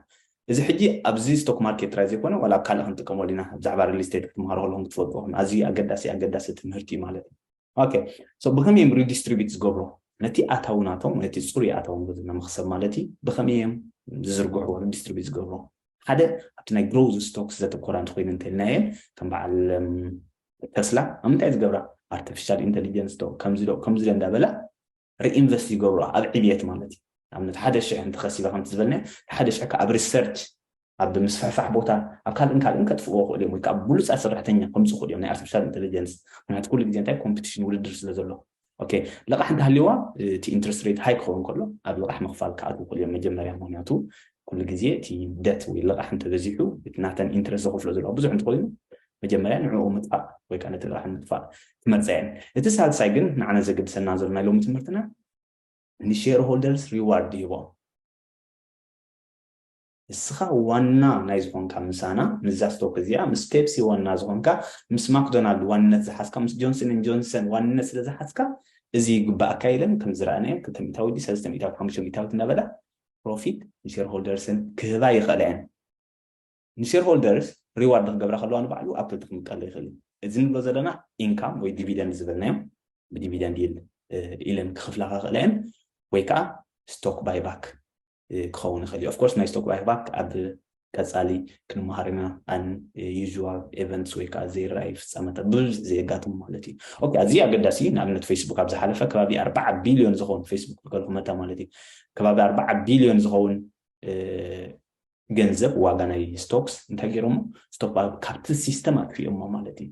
እዚ ሕጂ ኣብዚ ስቶክ ማርኬት ጥራይ ዘይኮነ ዋላ ኣብ ካልእ ክንጥቀመሉ ኢና ብዛዕባ ሪል ስቴት ክትምሃሩ ከለኹም ክትፈልጥዎ ኣዝዩ ኣገዳሲ ኣገዳሲ ትምህርቲ እዩ ማለት እዩ ኦኬ ሶ ብከመይ እዮም ሪዲስትሪቢዩት ዝገብሩ ነቲ ኣታዊ ናቶም ነቲ ፅሩይ ኣታዊ ንብዝና መክሰብ ማለት እዩ ብከመይ እዮም ዝዝርግሕዎ ሪዲስትሪቢዩት ዝገብሩ ሓደ ኣብቲ ናይ ግሮዝ ስቶክስ ዘተኮራ እንተኮይኑ እንተልናየን ከም በዓል ተስላ ኣብ ምንታይ ዝገብራ ኣርቲፊሻል ኢንቴሊጀንስ ዶ ከምዚ ዶ ከምዚ ዶ እንዳበላ ሪኢንቨስት ይገብሩኣ ኣብ ዕብየት ማለት እዩ ንኣብነት ሓደ ሽሕ እንተኸሲበ ከምቲ ዝበልናዮ እቲ ሓደ ሽሕ ከዓ ኣብ ሪሰርች ኣብ ምስፍሕፋሕ ቦታ ኣብ ካልእን ካልእን ከጥፍእዎ ክእሉ እዮም ወይ ከዓ ብሉፃት ሰራሕተኛ ከምፁ ክእሉ እዮም ናይ ኣርቲፊሻል ኢንቴሊጀንስ ምክንያቱ ኩሉ ግዜ እንታይ ኮምፒቲሽን ውድድር ስለ ዘሎ ኦኬ ልቓሕ እንተሃልዩዋ እቲ ኢንትረስት ሬት ሃይ ክኸውን ከሎ ኣብ ልቓሕ ምኽፋል ክኣትዉ ክእሉ እዮም መጀመርያ ምክንያቱ ኩሉ ግዜ እቲ ደት ወይ ልቓሕ እንተበዚሑ እቲ ናተን ኢንትረስት ዘኽፍሎ ዘለዋ ብዙሕ እንትኮይኑ መጀመርያ ንዕኡ ምጥፋእ ወይ ከኣ ነቲ ረብሓ ንምጥፋእ ክመርጻ እየን። እቲ ሳልሳይ ግን ንዓና ዘገድሰና ዘሎ ናይ ሎሚ ትምህርትና ንሼር ሆልደርስ ሪዋርድ ይህቦም። ንስኻ ዋና ናይ ዝኾንካ ምሳና ምስዛ ስቶክ እዚኣ ምስ ፔፕሲ ዋና ዝኾንካ ምስ ማክዶናልድ ዋንነት ዝሓዝካ ምስ ጆንሰን ን ጆንሰን ዋንነት ስለ ዝሓዝካ እዚ ይግባኣካ ኢለን ከም ዝረኣናዮ ክልተ ሚእታዊት ድዩ ሰለስተ ሚእታዊት ሓሙሽተ ሚእታዊት እናበላ ፕሮፊት ንሼር ሆልደርስን ክህባ ይኽእላ እየን። ንሼርሆልደርስ ሪዋርድ ክገብራ ከለዋ ንባዕሉ ኣብ ክልተ ክምቀሎ ይኽእል እዩ። እዚ ንብሎ ዘለና ኢንካም ወይ ዲቪደንድ ዝበልናዮ ብዲቪደንድ ይል ኢለን ክኽፍላ ከኽእላ እየን ወይ ከዓ ስቶክ ባይባክ ክኸውን ይኽእል እዩ። ኦፍኮርስ ናይ ስቶክ ባይባክ ኣብ ቀፃሊ ክንመሃር ኢና ኣን ዩዥዋል ኤቨንትስ ወይ ከዓ ዘይረኣዩ ፍፃመታት ብብዝሒ ዘየጋጥሙ ማለት እዩ ኦኬ ኣዝዩ ኣገዳሲ እዩ ንኣብነት ፌስቡክ ኣብ ዝሓለፈ ከባቢ ኣርባዓ ቢልዮን ዝኸውን ፌስቡክ ዝከልኩ መታ ማለት እዩ ከባቢ ኣርባዓ ቢልዮን ዝኸውን ገንዘብ ዋጋ ናይ ስቶክስ እንታይ ገይሮሞ ስቶክ ኣብ ካብቲ ሲስተም ኣጥፊኦሞ ማለት እዩ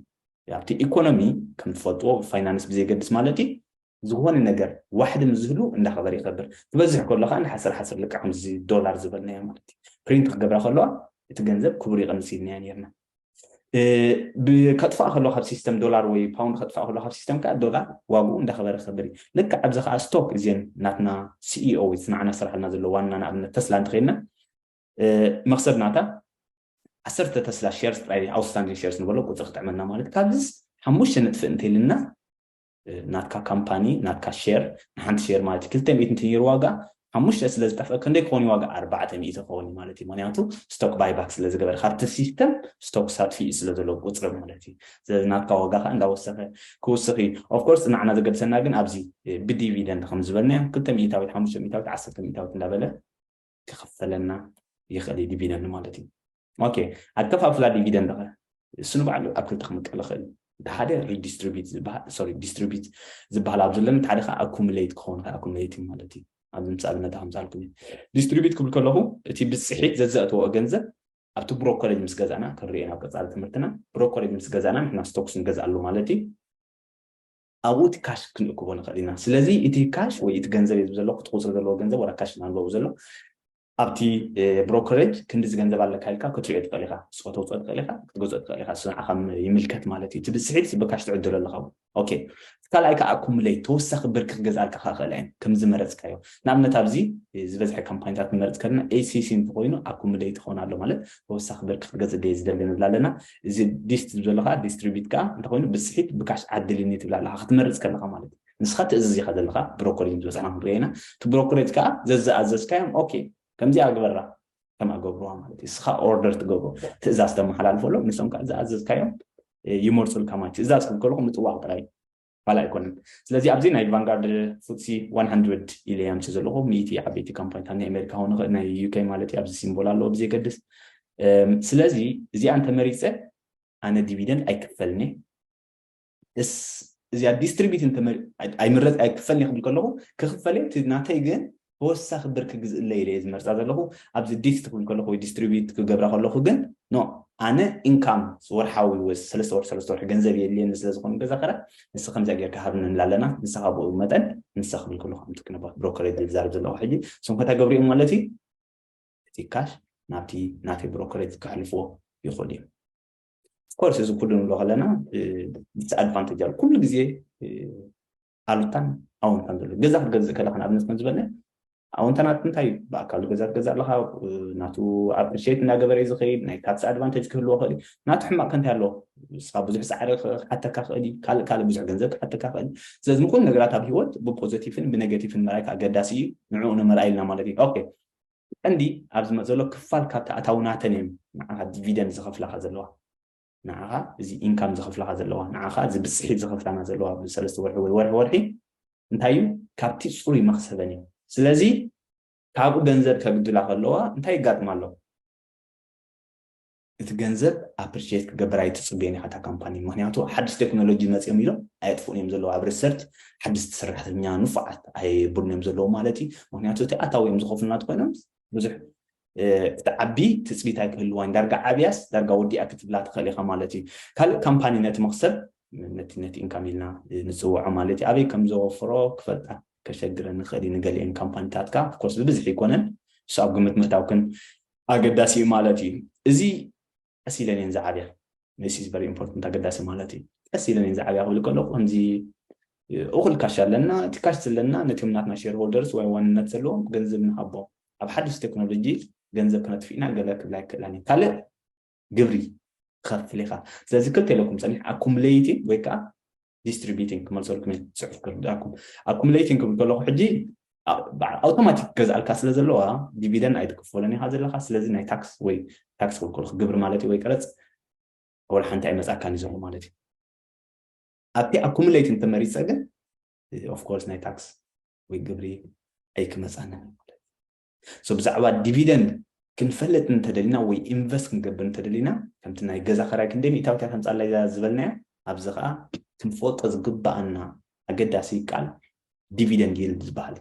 ኣብቲ ኢኮኖሚ ከም ትፈልጥዎ ፋይናንስ ብዘይገድስ ማለት እዩ ዝኾነ ነገር ዋሕዲ ምስ ዝህሉ እንዳኸበረ ይኸብር ዝበዝሕ ከሎ ከዓ ንሓሰር ሓሰር ልክዕ ከምዚ ዶላር ዝበልናዮ ማለት እዩ ፕሪንት ክገብራ ከለዋ እቲ ገንዘብ ክቡር ይቕንስ ኢልናዮ ነይርና ከጥፋእ ከሎ ካብ ሲስተም ዶላር ወይ ፓውንድ ከጥፋእ ከሎ ካብ ሲስተም ከዓ ዶላር ዋግኡ እንዳኸበረ ክኸብር እዩ ልክ ኣብዚ ከዓ ስቶክ እዚን ናትና ሲኢኦ ወይ ንዓና ዝስራሕልና ዘሎ ዋና ንኣብነት ተስላ እንተኸይድና መክሰብ ናታ ዓሰርተ ተስላ ሸርስ ጥራይ ኣውትስታንዲንግ ሸርስ ንበሎ ቁፅሪ ክጥዕመልና ማለት ካብዚስ ሓሙሽተ ንጥፍእ እንተይልና ናትካ ካምፓኒ ናትካ ሼር ንሓንቲ ሼር ማለት ክልተ ሚእቲ እንተ ነይሩ ዋጋ ሓሙሽተ ስለ ዝጠፍእ ክንደይ ክኸውን ዋጋ ኣርባዕተ ሚእቲ ክኸውን እዩ ማለት እዩ ምክንያቱ ስቶክ ባይባክ ስለ ዝገበረ ካብቲ ሲስተም ስቶክ ሳጥፊኡ ስለ ዘለዎ ቁፅሪ ማለት እዩ ስለዚ ናትካ ዋጋ ከዓ እንዳወሰኸ ክውስኽ እዩ ኦፍኮርስ ንዓና ዘገድሰና ግን ኣብዚ ብዲቪደንድ ከም ዝበልናዮ ክልተ ሚእታዊት ሓሙሽተ ሚእታዊት ዓሰርተ ሚእታዊት እንዳበለ ክኽፈለና ይኽእል እዩ ዲቪደንድ ማለት እዩ ኦኬ ኣከፋፍላ ዲቪደንድ ኸ እሱ ንባዕሉ ኣብ ክልተ ክምቀል ይኽእል እዩ እቲ ሓደ ሪዲስትሪቢት ዝበሃል ሶሪ ዲስትሪቢት ዝበሃል ኣብ ዘለኒ እቲ ሓደ ከዓ ኣኩሙሌት ክኸውን ይኽእል ኣኩሙሌት እዩ ማለት እዩ ኣብዚ ምሳልነት ከምዝሃልኩም እዩ ዲስትሪቢት ክብል ከለኹ እቲ ብፅሒት ዘዘእተዎ ገንዘብ ኣብቲ ብሮ ኮሌጅ ምስ ገዛእና ክንሪኦ ናብ ቀፃሊ ትምህርትና ብሮ ኮሌጅ ምስ ገዛእና ንሕና ስቶክስ ንገዝኣሉ ማለት እዩ ኣብኡ እቲ ካሽ ክንእክቦ ንኽእል ኢና። ስለዚ እቲ ካሽ ወይ እቲ ገንዘብ እየ ዝብል ዘለኹ፣ እቲ ቁጽሪ ዘለዎ ገንዘብ ወላ ካሽ ኢና ንብሎ ዘሎ። ኣብቲ ብሮከረጅ ክንድዚ ገንዘብ ኣለካ ኢልካ ክትሪኦ ትኽእል ኢኻ፣ ንስኻ ተውጽኦ ትኽእል ኢኻ፣ ክትገዝኦ ትኽእል ኢኻ፣ እሱ ንዓኻ ይምልከት ማለት እዩ። እቲ ብዝስሒት ብካሽ ትዕድሎ ኣለኻ እውን ኦኬ። እቲ ካልኣይ ከኣ ኣኩሙለይት፣ ተወሳኺ ብር ክገዝኣልካ ከኣ ይኽእላ እየን ከም ዝመረጽካዮ። ንኣብነት ኣብዚ ዝበዝሐ ካምፓኒታት ክንመርጽ ከለና ACC እንተኾይኑ ኣኩሙለይት ይኾን ኣሎ ማለት ተወሳኺ ብር ክትገዝእ ድየ ዝደሊ ንብል ኣለና። እዚ ዲስት ዝብ ዘሎ ከዓ ዲስትሪቢት ከዓ እንተኮይኑ ብፅሒት ብካሽ ዓድልኒ ትብል ኣለካ ክትመርፅ ከለካ ማለት እዩ ንስካ ትእዝዝ ኢካ ዘለካ ብሮኮሬጅ ዝበፅሓና ክንሪኦ ኢና እቲ ብሮኮሬጅ ከዓ ዘዝኣዘዝካዮም ኦኬ ከምዚኣ ግበራ ከምኣ ገብርዋ ማለት እዩ ንስካ ኦርደር ትገብሮ ትእዛዝ ተመሓላልፈሎም ንሶም ከዓ ዝኣዘዝካዮም ይመርፁልካ ማለት እዩ ትእዛዝ ክብ ከለኩ ምጥዋቅ ጥራይ ፋል ኣይኮነን ስለዚ ኣብዚ ናይ ቫንጋርድ ፉትሲ ዋን ሃንድረድ ኢለ ኣምፂ ዘለኹ ሚእቲ ዓበይቲ ካምፓኒታት ናይ ኣሜሪካ ክኸውን ይኽእል ናይ ዩኬ ማለት እዩ ኣብዚ ሲምቦል ኣለዎ ብዘይገድስ ስለዚ እዚኣ እንተመሪፀ ኣነ ዲቪደንድ ኣይክፈልኒ እስ እዚኣ ዲስትሪቢዩት እንተመሪ ኣይምረፅ ኣይክፈልኒ ክብል ከለኹ ክኽፈለ እቲ ናተይ ግን ተወሳኺ ብር ክግዝእለይ ኢለ እየ ዝመርጻ ዘለኹ፣ ኣብዚ ዲት ትብል ከለኹ ወይ ዲስትሪቢዩት ክገብራ ከለኹ ግን ኖ ኣነ ኢንካም ወርሓዊ ወይ ሰለስተ ወርሒ ሰለስተ ወርሒ ገንዘብ የድልየኒ ስለ ዝኸውን ገዛ ክራይ ንስኻ ከምዚኣ ጌርካ ሃብኒ ንብል ኣለና ንስኻ ብኡ መጠን ንሳ ክብል ከለኹ ከምቲ ክንባ ብሮከር እየ ዝዛረብ ዘለኹ ሕጂ እሶም ከታ ገብሪኦም ማለት እዩ እቲ ካሽ ናብቲ ናተይ ብሮከሬጅ ክሕልፍዎ ይኽእሉ እዮም ኮርስ እዚ ኩሉ ንብሎ ከለና ዲስኣድቫንቴጅ ኣሎ ኩሉ ግዜ ኣሉታን ኣወንታን ዘሎ ገዛ ክትገዝእ ከለካ ንኣብነት ከም ዝበልና ኣወንታ ናት እንታይ እዩ ብኣካሉ ገዛ ትገዛ ኣለካ ናቱ ኣፕሪሽት እናገበረ እዩ ዝኸይድ ናይ ታክሲ ኣድቫንቴጅ ክህልዎ ክእል እዩ ናቱ ሕማቅ ከንታይ ኣለዎ ንስኻ ብዙሕ ፃዕሪ ክሓተካ ክእል እዩ ካልእ ካልእ ብዙሕ ገንዘብ ክሓተካ ክእል ስለዚ ንኩሉ ነገራት ኣብ ሂወት ብፖዘቲቭን ብነጋቲቭን መርኣይካ ኣገዳሲ እዩ ንዕኡ ንመርኣይልና ማለት እዩ ኦኬ ቀንዲ ኣብዚ ዘሎ ክፋል ካብቲ ኣታዊ ናተን እዮም ንዓኻ ዲቪደንድ ዝኸፍላካ ዘለዋ ንዓኻ እዚ ኢንካም ዝኸፍላኻ ዘለዋ ንዓኻ እዚ ብፅሒት ዝኸፍላና ዘለዋ ብሰለስተ ወርሒ ወይ ወርሒ ወርሒ እንታይ እዩ ካብቲ ፅሩይ መኽሰበን እዩ ስለዚ ካብኡ ገንዘብ ከግድላ ከለዋ እንታይ ይጋጥማ ኣሎ እቲ ገንዘብ ኣፕሪሽት ክገብር ኣይትፅበዮን ኢኻ እታ ካምፓኒ ምክንያቱ ሓድሽ ቴክኖሎጂ መፅኦም ኢሎም ኣየጥፍኡን እዮም ዘለዉ ኣብ ሪሰርች ሓድስቲ ሰራሕተኛ ንፉዓት ኣይብሉን እዮም ዘለዉ ማለት እዩ ምክንያቱ እቲ ኣታዊ እዮም ዝኸፍሉና ኮይኖም ብዙሕ ክትዓቢ ትፅቢት ኣይክህልዋን ዳርጋ ዓብያስ ዳርጋ ወዲኣ ክትብላ ትኽእል ኢኻ ማለት እዩ ካልእ ካምፓኒ ነቲ መኽሰብ ነቲ ነቲ ኢንካም ኢልና ንፅውዖ ማለት እዩ ኣበይ ከም ዘወፍሮ ክፈልጣ ከሸግረን ንኽእል እዩ ንገሊአን ካምፓኒታትካ ኮርስ ብብዝሒ ኣይኮነን እሱ ኣብ ግምት ምእታውክን ኣገዳሲ እዩ ማለት እዩ እዚ ቀስ ኢለን እየን ዝዓብያ this is very important ኣገዳሲ ማለት እዩ ቀስ ኢለን እየን ዝዓብያ ክብል ከለኩ ከምዚ እኹል ካሽ ኣለና እቲ ካሽ ዘለና ነቲም ናትና ሼር ሆልደርስ ወይ ዋንነት ዘለዎም ገንዘብ ንሃቦም ኣብ ሓድሽ ቴክኖሎጂ ገንዘብ ክነጥፍ ኢና ገለ ክብላ ይክእላን እዩ ካልእ ግብሪ ትኸፍል ኢኻ ስለዚ ክልተ ኢለኩም ፀኒሕ ኣኩምለይቲ ወይ ከዓ ዲስትሪቢቲንግ ክመልሰልኩም እየ ፅሑፍ ክርዳኩም ኣኩሙሌቲንግ ክብል ከለኩ ሕጂ ኣውቶማቲክ ገዝኣልካ ስለ ዘለዋ ዲቪደን ኣይትክፈሎን ኢካ ዘለካ ስለዚ ናይ ታክስ ወይ ታክስ ክብል ከለኩ ግብሪ ማለት እዩ ወይ ቀረፅ ወላ ሓንቲ ኣይመፅኣካን እዩ ዘሎ ማለት እዩ ኣብቲ ኣኩሙሌት እንተመሪፀ ግን ኦፍኮርስ ናይ ታክስ ወይ ግብሪ ኣይክመፃንን ማለት ሶ ብዛዕባ ዲቪደንድ ክንፈልጥ እንተደሊና ወይ ኢንቨስት ክንገብር እንተደሊና ከምቲ ናይ ገዛ ከራይ ክንደይ ሚእታዊት እያ ተምጻላይ እዛ ዝበልናያ ኣብዚ ከኣ ክንፈልጦ ዝግብኣና ኣገዳሲ ቃል ዲቪደንድ ይልድ ዝበሃል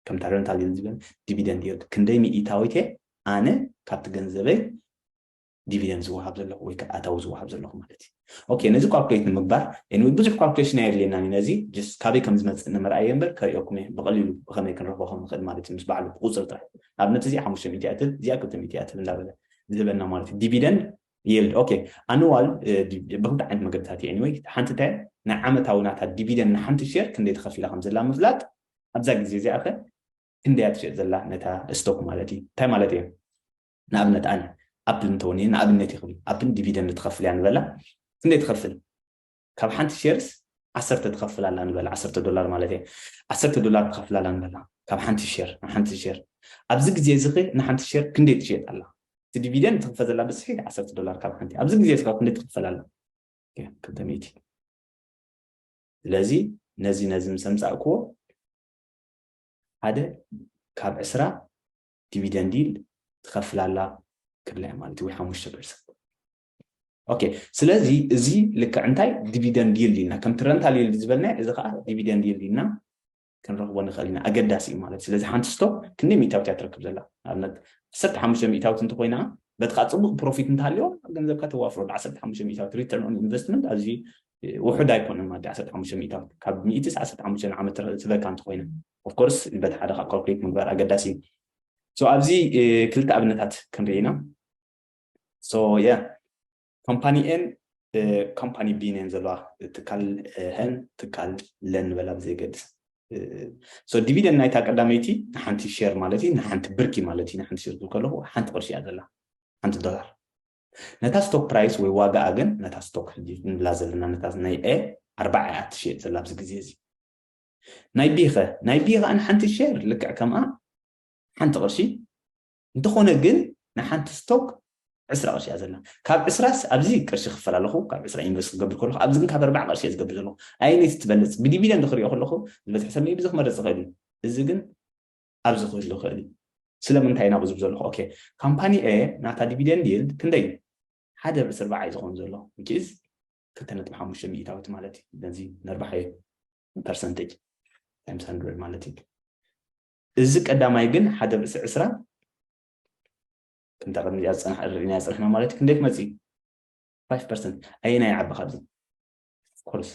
ከምታ ረንታል ይልድ ዝበል ዲቪደንድ ይልድ ክንደይ ሚእታዊት እየ ኣነ ካብቲ ገንዘበይ ዲቪደንድ ዝወሃብ ዘለኹ ወይ ከዓ ኣታዊ ዝወሃብ ዘለኹ ማለት እዩ ኦኬ ነዚ ኳልኩሌት ንምግባር ኤኒወይ ብዙሕ ኳልኩሌሽን ኣየድልየናን እዩ ነዚ ጀስት ካበይ ከም ዝመፅእ ንምርኣየ እምበር ከሪኦኩም እየ ብቐሊሉ ብኸመይ ክንረኽቦ ከም ንኽእል ማለት እዩ ምስ በዓሉ ብቁፅሪ ጥራሕ ንኣብነት እዚ ሓሙሽተ ሚእቲ እያ ትህብ እዚኣ ክልተ ሚእቲ እያ ትህብ እንዳበለ ዝህበና ማለት እዩ ዲቪደንድ ይልድ ኦኬ ኣንዋል ብክልተ ዓይነት መገድታት እዩ ኤኒወይ ሓንቲ እንታይ ናይ ዓመታዊ ናታ ዲቪደንድ ንሓንቲ ሼር ክንደይ ተኸፊላ ከም ዘላ ምፍላጥ ኣብዛ ግዜ እዚኣ ኸ ክንደይ እያ ትሸጥ ዘላ ነታ ስቶክ ማለት እዩ እንታይ ማለት እዩ ንኣብነት ኣነ ኣፕል እንተውንየ ንኣብነት እዩ ክብል ኣፕል ዲቪደንድ ትኸፍል እያ ንበላ ክንደይ ትኸፍል ካብ ሓንቲ ሼርስ ዓሰርተ ትኸፍል ኣላ ንበላ ዓሰርተ ዶላር ማለት እየ ዓሰርተ ዶላር ትኸፍል ኣላ ንበላ ካብ ሓንቲ ሼር ንሓንቲ ሼር ኣብዚ ግዜ እዚ ኸ ንሓንቲ ሼር ክንደይ ትሸየጥ ኣላ እቲ ዲቪደንድ ትኽፈ ዘላ ብስሒ ዓሰርተ ዶላር ካብ ሓንቲ ኣብዚ ግዜ እዚ ካብ ክንደይ ትኽፈል ኣላ ክልተ ሚእቲ ስለዚ ነዚ ነዚ ምስ ኣምፃእክዎ ሓደ ካብ ዕስራ ዲቪደንድ ይል ትኸፍል ኣላ ክብላ እያ ማለት እዩ ወይ ሓሙሽተ ፐርሰንት ኦኬ ስለዚ እዚ ልክዕ እንታይ ዲቪደንድ ይል ኢልና ከምቲ ረንታል ይል ዝበልናዮ እዚ ከዓ ዲቪደንድ ይል ኢልና ክንረኽቦ ንኽእል ኢና ኣገዳሲ እዩ ማለት ስለዚ ሓንቲ ስቶ ክንደይ ሚእታዊት እያ ትረክብ ዘላ ንኣብነት ዓሰርተ ሓሙሽተ ሚእታዊት እንተኮይና በቲ ከዓ ፅቡቅ ፕሮፊት እንተሃልዮ ገንዘብካ ተዋፍሮ ዓሰርተ ሓሙሽተ ሚእታዊት ሪተርን ኦን ኢንቨስትመንት ኣዝዩ ውሑድ ኣይኮነን ማለት ዓሰርተ ሓሙሽተ ሚእታዊት ካብ ሚእቲስ ዓሰርተ ሓሙሽተ ንዓመት ትበካ እንተኮይና of course በቲ ሓደ ካብ calculate ምግባር ኣገዳሲ እዩ so ኣብዚ ክልተ ኣብነታት ክንርኢ ኢና so yeah ካምፓኒ ኤን ካምፓኒ ቢን እየን ዘለዋ ትካል ሀን ትካል ለን ንበላ ብዘይገድስ ሶ ዲቪደንድ ናይታ ቀዳመይቲ ንሓንቲ ሸር ማለት እዩ ንሓንቲ ብርኪ ማለት እዩ ንሓንቲ ሸር ከለኹ ሓንቲ ቅርሺ እያ ዘላ ሓንቲ ዶላር ነታ ስቶክ ፕራይስ ወይ ዋጋኣ ግን ነታ ስቶክ ንብላ ዘለና ነታ ናይ ኤ ኣርባዓ እያ ትሸየጥ ዘላ ኣብዚ ግዜ እዚ ናይ ቢኸ ናይ ቢኸ ንሓንቲ ሼር ልክዕ ከምኣ ሓንቲ ቅርሺ እንተኾነ ግን ንሓንቲ ስቶክ ዕስራ ቅርሺ እያ ዘላ ካብ ዕስራስ ኣብዚ ቅርሺ ክፈል ኣለኹ ካብ ዕስራ ኢንቨስት ክገብር ከለኹ ኣብዚ ግን ካብ ኣርባዓ ቅርሺ እየ ዝገብር ዘለኹ ኣየነይቲ ትበልፅ ብዲቪደንድ ክሪኦ ከለኹ ዝበዝሕ ሰብ ሜቢ እዚ ክመርፅ ይኽእል እዩ እዚ ግን ኣብዚ ክህሉ ይኽእል እዩ ስለምንታይ ኢና ብዙብ ዘለኹ ኦኬ ካምፓኒ ኤ ናታ ዲቪደንድ ይልድ ክንደይ እዩ ሓደ ርዕሲ ኣርባዓ እዩ ዝኾን ዘሎ ዊችዝ ክልተ ነጥቢ ሓሙሽተ ሚእታዊት ማለት እዩ ነዚ ነርባሕየ ፐርሰንቴጅ ታይምስ ሃንድረድ ማለት እዩ እዚ ቀዳማይ ግን ሓደ ርእሲ ዕስራ ከምታ ቅድሚ እዚኣ ዝፀናሕ ርኢናያ ዝፀናሕና ማለት እዩ ክንደይ ክመፅእ እዩ ፋይቭ ፐርሰንት ኣየናይ ይዓቢ ካብዚ ኮርስ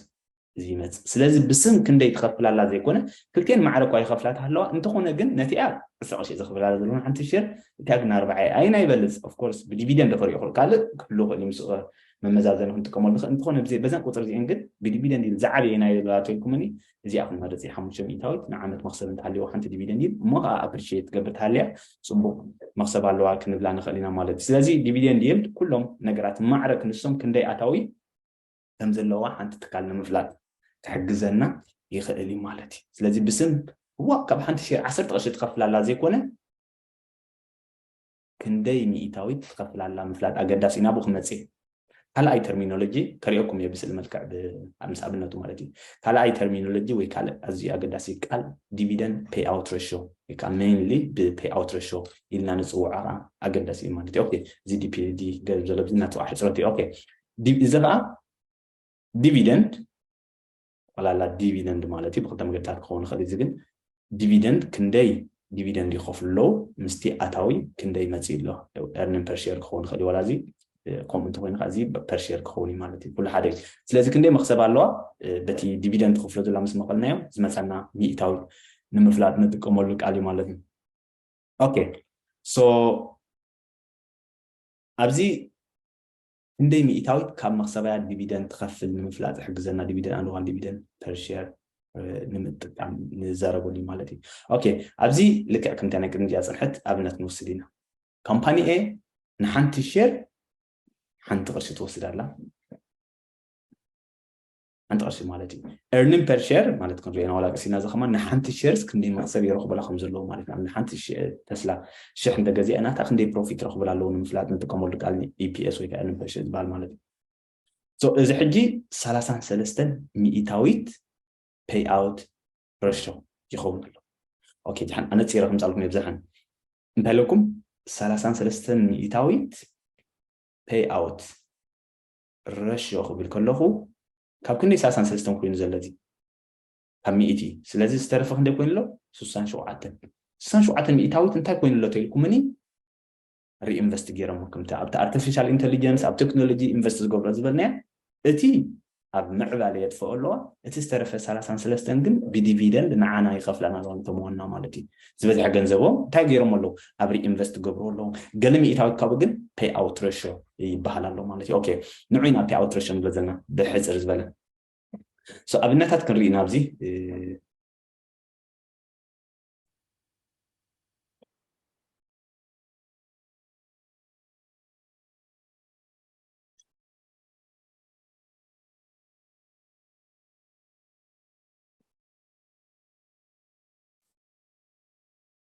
እዚ ይመፅእ ስለዚ ብስም ክንደይ ትኸፍላላ ዘይኮነ ክልቴን ማዕረ እኳ ይኸፍላት ኣለዋ እንተኾነ ግን ነቲኣ ዕስራ ቅርሺ ዘኽፍላላ ዘለውን ሓንቲ ሸር እቲኣ ግን ኣርባዓ ኣየና ይበልፅ ኦፍኮርስ ብዲቪደንድ ክሪኦ ካልእ ክህሉ ክእል ምስ መመዛዘኒ ክንጥቀመሉ ንኽእል እንተኾነ በዘን ቁፅሪ እዚኤን ግን ብዲቪደንድ ይል ዝዓበየ ናይ ዶላር ተልኩምኒ እዚኣ ክንመርፅ እየ ሓሙሽተ ሚእታዊት ንዓመት መኽሰብ እንተሃልየዋ ሓንቲ ዲቪደንድ ይል እሞ ከዓ ኣፕሪሽት ትገብር ተሃልያ ፅቡቕ መኽሰብ ኣለዋ ክንብላ ንኽእል ኢና ማለት እዩ ስለዚ ዲቪደንድ ይል ኩሎም ነገራት ማዕረ ክንሶም ክንደይ ኣታዊ ከም ዘለዋ ሓንቲ ትካል ንምፍላጥ ክሕግዘና ይኽእል እዩ ማለት እዩ ስለዚ ብስም እዋ ካብ ሓንቲ ሸር ዓሰርተ ቅርሺ ትኸፍላላ ዘይኮነ ክንደይ ሚኢታዊት ትኸፍላላ ምፍላጥ ኣገዳሲ ናብኡ ክመጽእ እየ። ካልኣይ ተርሚኖሎጂ ከሪኦኩም እየ ብስእሊ መልክዕ ብ ምስ ኣብነቱ ማለት እዩ። ካልኣይ ተርሚኖሎጂ ወይ ካልእ ኣዝዩ ኣገዳሲ ቃል ዲቪደንድ ፔይ ኣውት ረሾ ወይ ከኣ ሜይንሊ ብ ፔይ ኣውት ረሾ ኢልና ንጽውዖ ከኣ ኣገዳሲ እዩ ማለት እዩ። ኦኬ እዚ ዲፒዲ ገርብ ዘሎ እዚ ናቱ ከኣ ሕጽረት እዩ። ኦኬ እዚ ከኣ ዲቪደንድ ጠቕላላ ዲቪደንድ ማለት እዩ ብክልተ መገድታት ክኸውን ይኽእል እዩ እዚ ግን ዲቪደንድ ክንደይ ዲቪደንድ ይኸፍሉ ኣለዉ ምስቲ ኣታዊ ክንደይ መፅኢ ኣሎ ኤርኒን ፐርሼር ክኸውን ይኽእል እዩ ዋላ እዚ ከምኡ እንተኮይኑ ከዓ እዚ ፐርሼር ክኸውን እዩ ማለት እዩ ኩሉ ሓደ እዩ ስለዚ ክንደይ መክሰብ ኣለዋ በቲ ዲቪደንድ ትኽፍሎ ዘላ ምስ መቐልናዮ ዝመፀና ሚእታዊ ንምፍላጥ ንጥቀመሉ ቃል እዩ ማለት እዩ ኦኬ ሶ ኣብዚ ክንደይ ሚኢታዊት ካብ መኽሰባያ ዲቪደንድ ትኸፍል ንምፍላጥ ዝሕግዘና ዲቪደንድ ኣንድ ዋን ዲቪደንድ ፐር ሼር ንምጥቃም ንዘረበሉ እዩ ማለት እዩ ኦኬ ኣብዚ ልክዕ ከምታ ናይ ቅድሚ እዚኣ ፅንሐት ኣብነት ንወስድ ኢና ካምፓኒ ኤ ንሓንቲ ሼር ሓንቲ ቅርሺ ትወስድ ኣላ ሓንቲ ቅርሺ ማለት እዩ ኤርኒን ፐር ሸር ማለት ከም ዜና ዋላ ቅርሲና እዚ ከማ ንሓንቲ ሸርስ ክንደይ መክሰብ ይረኽበላ ከም ዘለዎ ማለት ናብ ንሓንቲ ተስላ ሽሕ እንተገዚአና እታ ክንደይ ፕሮፊት ረኽብላ ኣለዎ ንምፍላጥ ንጥቀመሉ ቃል ኢፒኤስ ወይ ከዓ ኤርኒን ፐር ሸር ዝበሃል ማለት እዩ እዚ ሕጂ ሰላሳን ሰለስተን ሚኢታዊት ፔይ ኣውት ረሾ ይኸውን ኣሎ ኦኬ ድሓን ኣነፂረ ከምፃልኩም እየ ብዝሓን እንታይ ኣለኩም ሰላሳን ሰለስተን ሚኢታዊት ፔይ ኣውት ረሽዮ ክብል ከለኹ ካብ ክንደይ ሳሳን ሰለስተን ኮይኑ ዘሎ እዚ ካብ ሚእቲ ስለዚ ዝተረፈ ክንደይ ኮይኑ ኣሎ ስሳን ሸውዓተን ስሳን ሸውዓተን ሚእታዊት እንታይ ኮይኑ ኣሎ ተልኩምኒ ሪኢንቨስት ገይሮሞ ከምቲ ኣብቲ ኣርቲፊሻል ኢንተሊጀንስ ኣብ ቴክኖሎጂ ኢንቨስት ዝገብሮ ዝበልናዮ እቲ ኣብ ምዕባለ የጥፈኦ ኣለዋ እቲ ዝተረፈ ሰላሳን ሰለስተን ግን ብዲቪደንድ ንዓና ይኸፍላና ኣለዋ ንተመወና ማለት እዩ ዝበዝሐ ገንዘቦም እንታይ ገይሮሞ ኣለዉ ኣብ ሪኢንቨስት ይገብርዎ ኣለዉ ገለ ሚኢታዊት ካብኡ ግን ፐይ ኣውት ረሾ ይበሃል ኣሎ ማለት እዩ ኦኬ ንዑ ኢና ፐይ ኣውት ረሾ ንብሎ ዘለና ብሕጽር ዝበለ ሶ ኣብነታት ክንርኢ ኢና ኣብዚ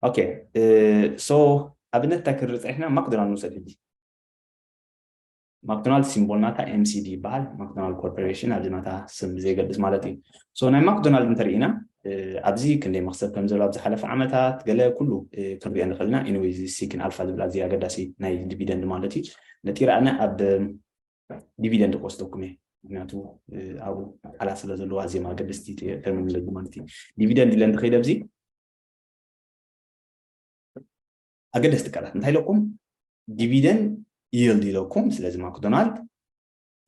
ኦኬ ሶ ኣብነት እንታይ ክንርኢ ፀኒሕና ማክዶናልድ ንውሰድ ሕጂ ማክዶናልድ ሲምቦል ናታ ኤምሲዲ ይበሃል ማክዶናልድ ኮርፖሬሽን ኣብዚ ናታ ስም ብዘይገድስ ማለት እዩ ሶ ናይ ማክዶናልድ እንተርኢና ኣብዚ ክንደይ መክሰብ ከም ዘሎ ኣብ ዝሓለፈ ዓመታት ገለ ኩሉ ክንሪኦ ንኽእል ኢና ኢንዌዚ ሲክን ኣልፋ ዝብል ኣዝዩ ኣገዳሲ ናይ ዲቪደንድ ማለት እዩ ነጢራኣነ ኣብ ዲቪደንድ ክወስደኩም እየ ምክንያቱ ኣብኡ ቃላት ስለ ዘለዋ ኣዝዮም ኣገደስቲ ተርሚኖሎጂ ማለት እዩ ዲቪደንድ ኢለ እንድኸይደ ኣብዚ ኣገደስቲ ቃላት እንታይ ኢለኩም ዲቪደንድ ይልድ ኢለኩም ስለዚ ማክዶናልድ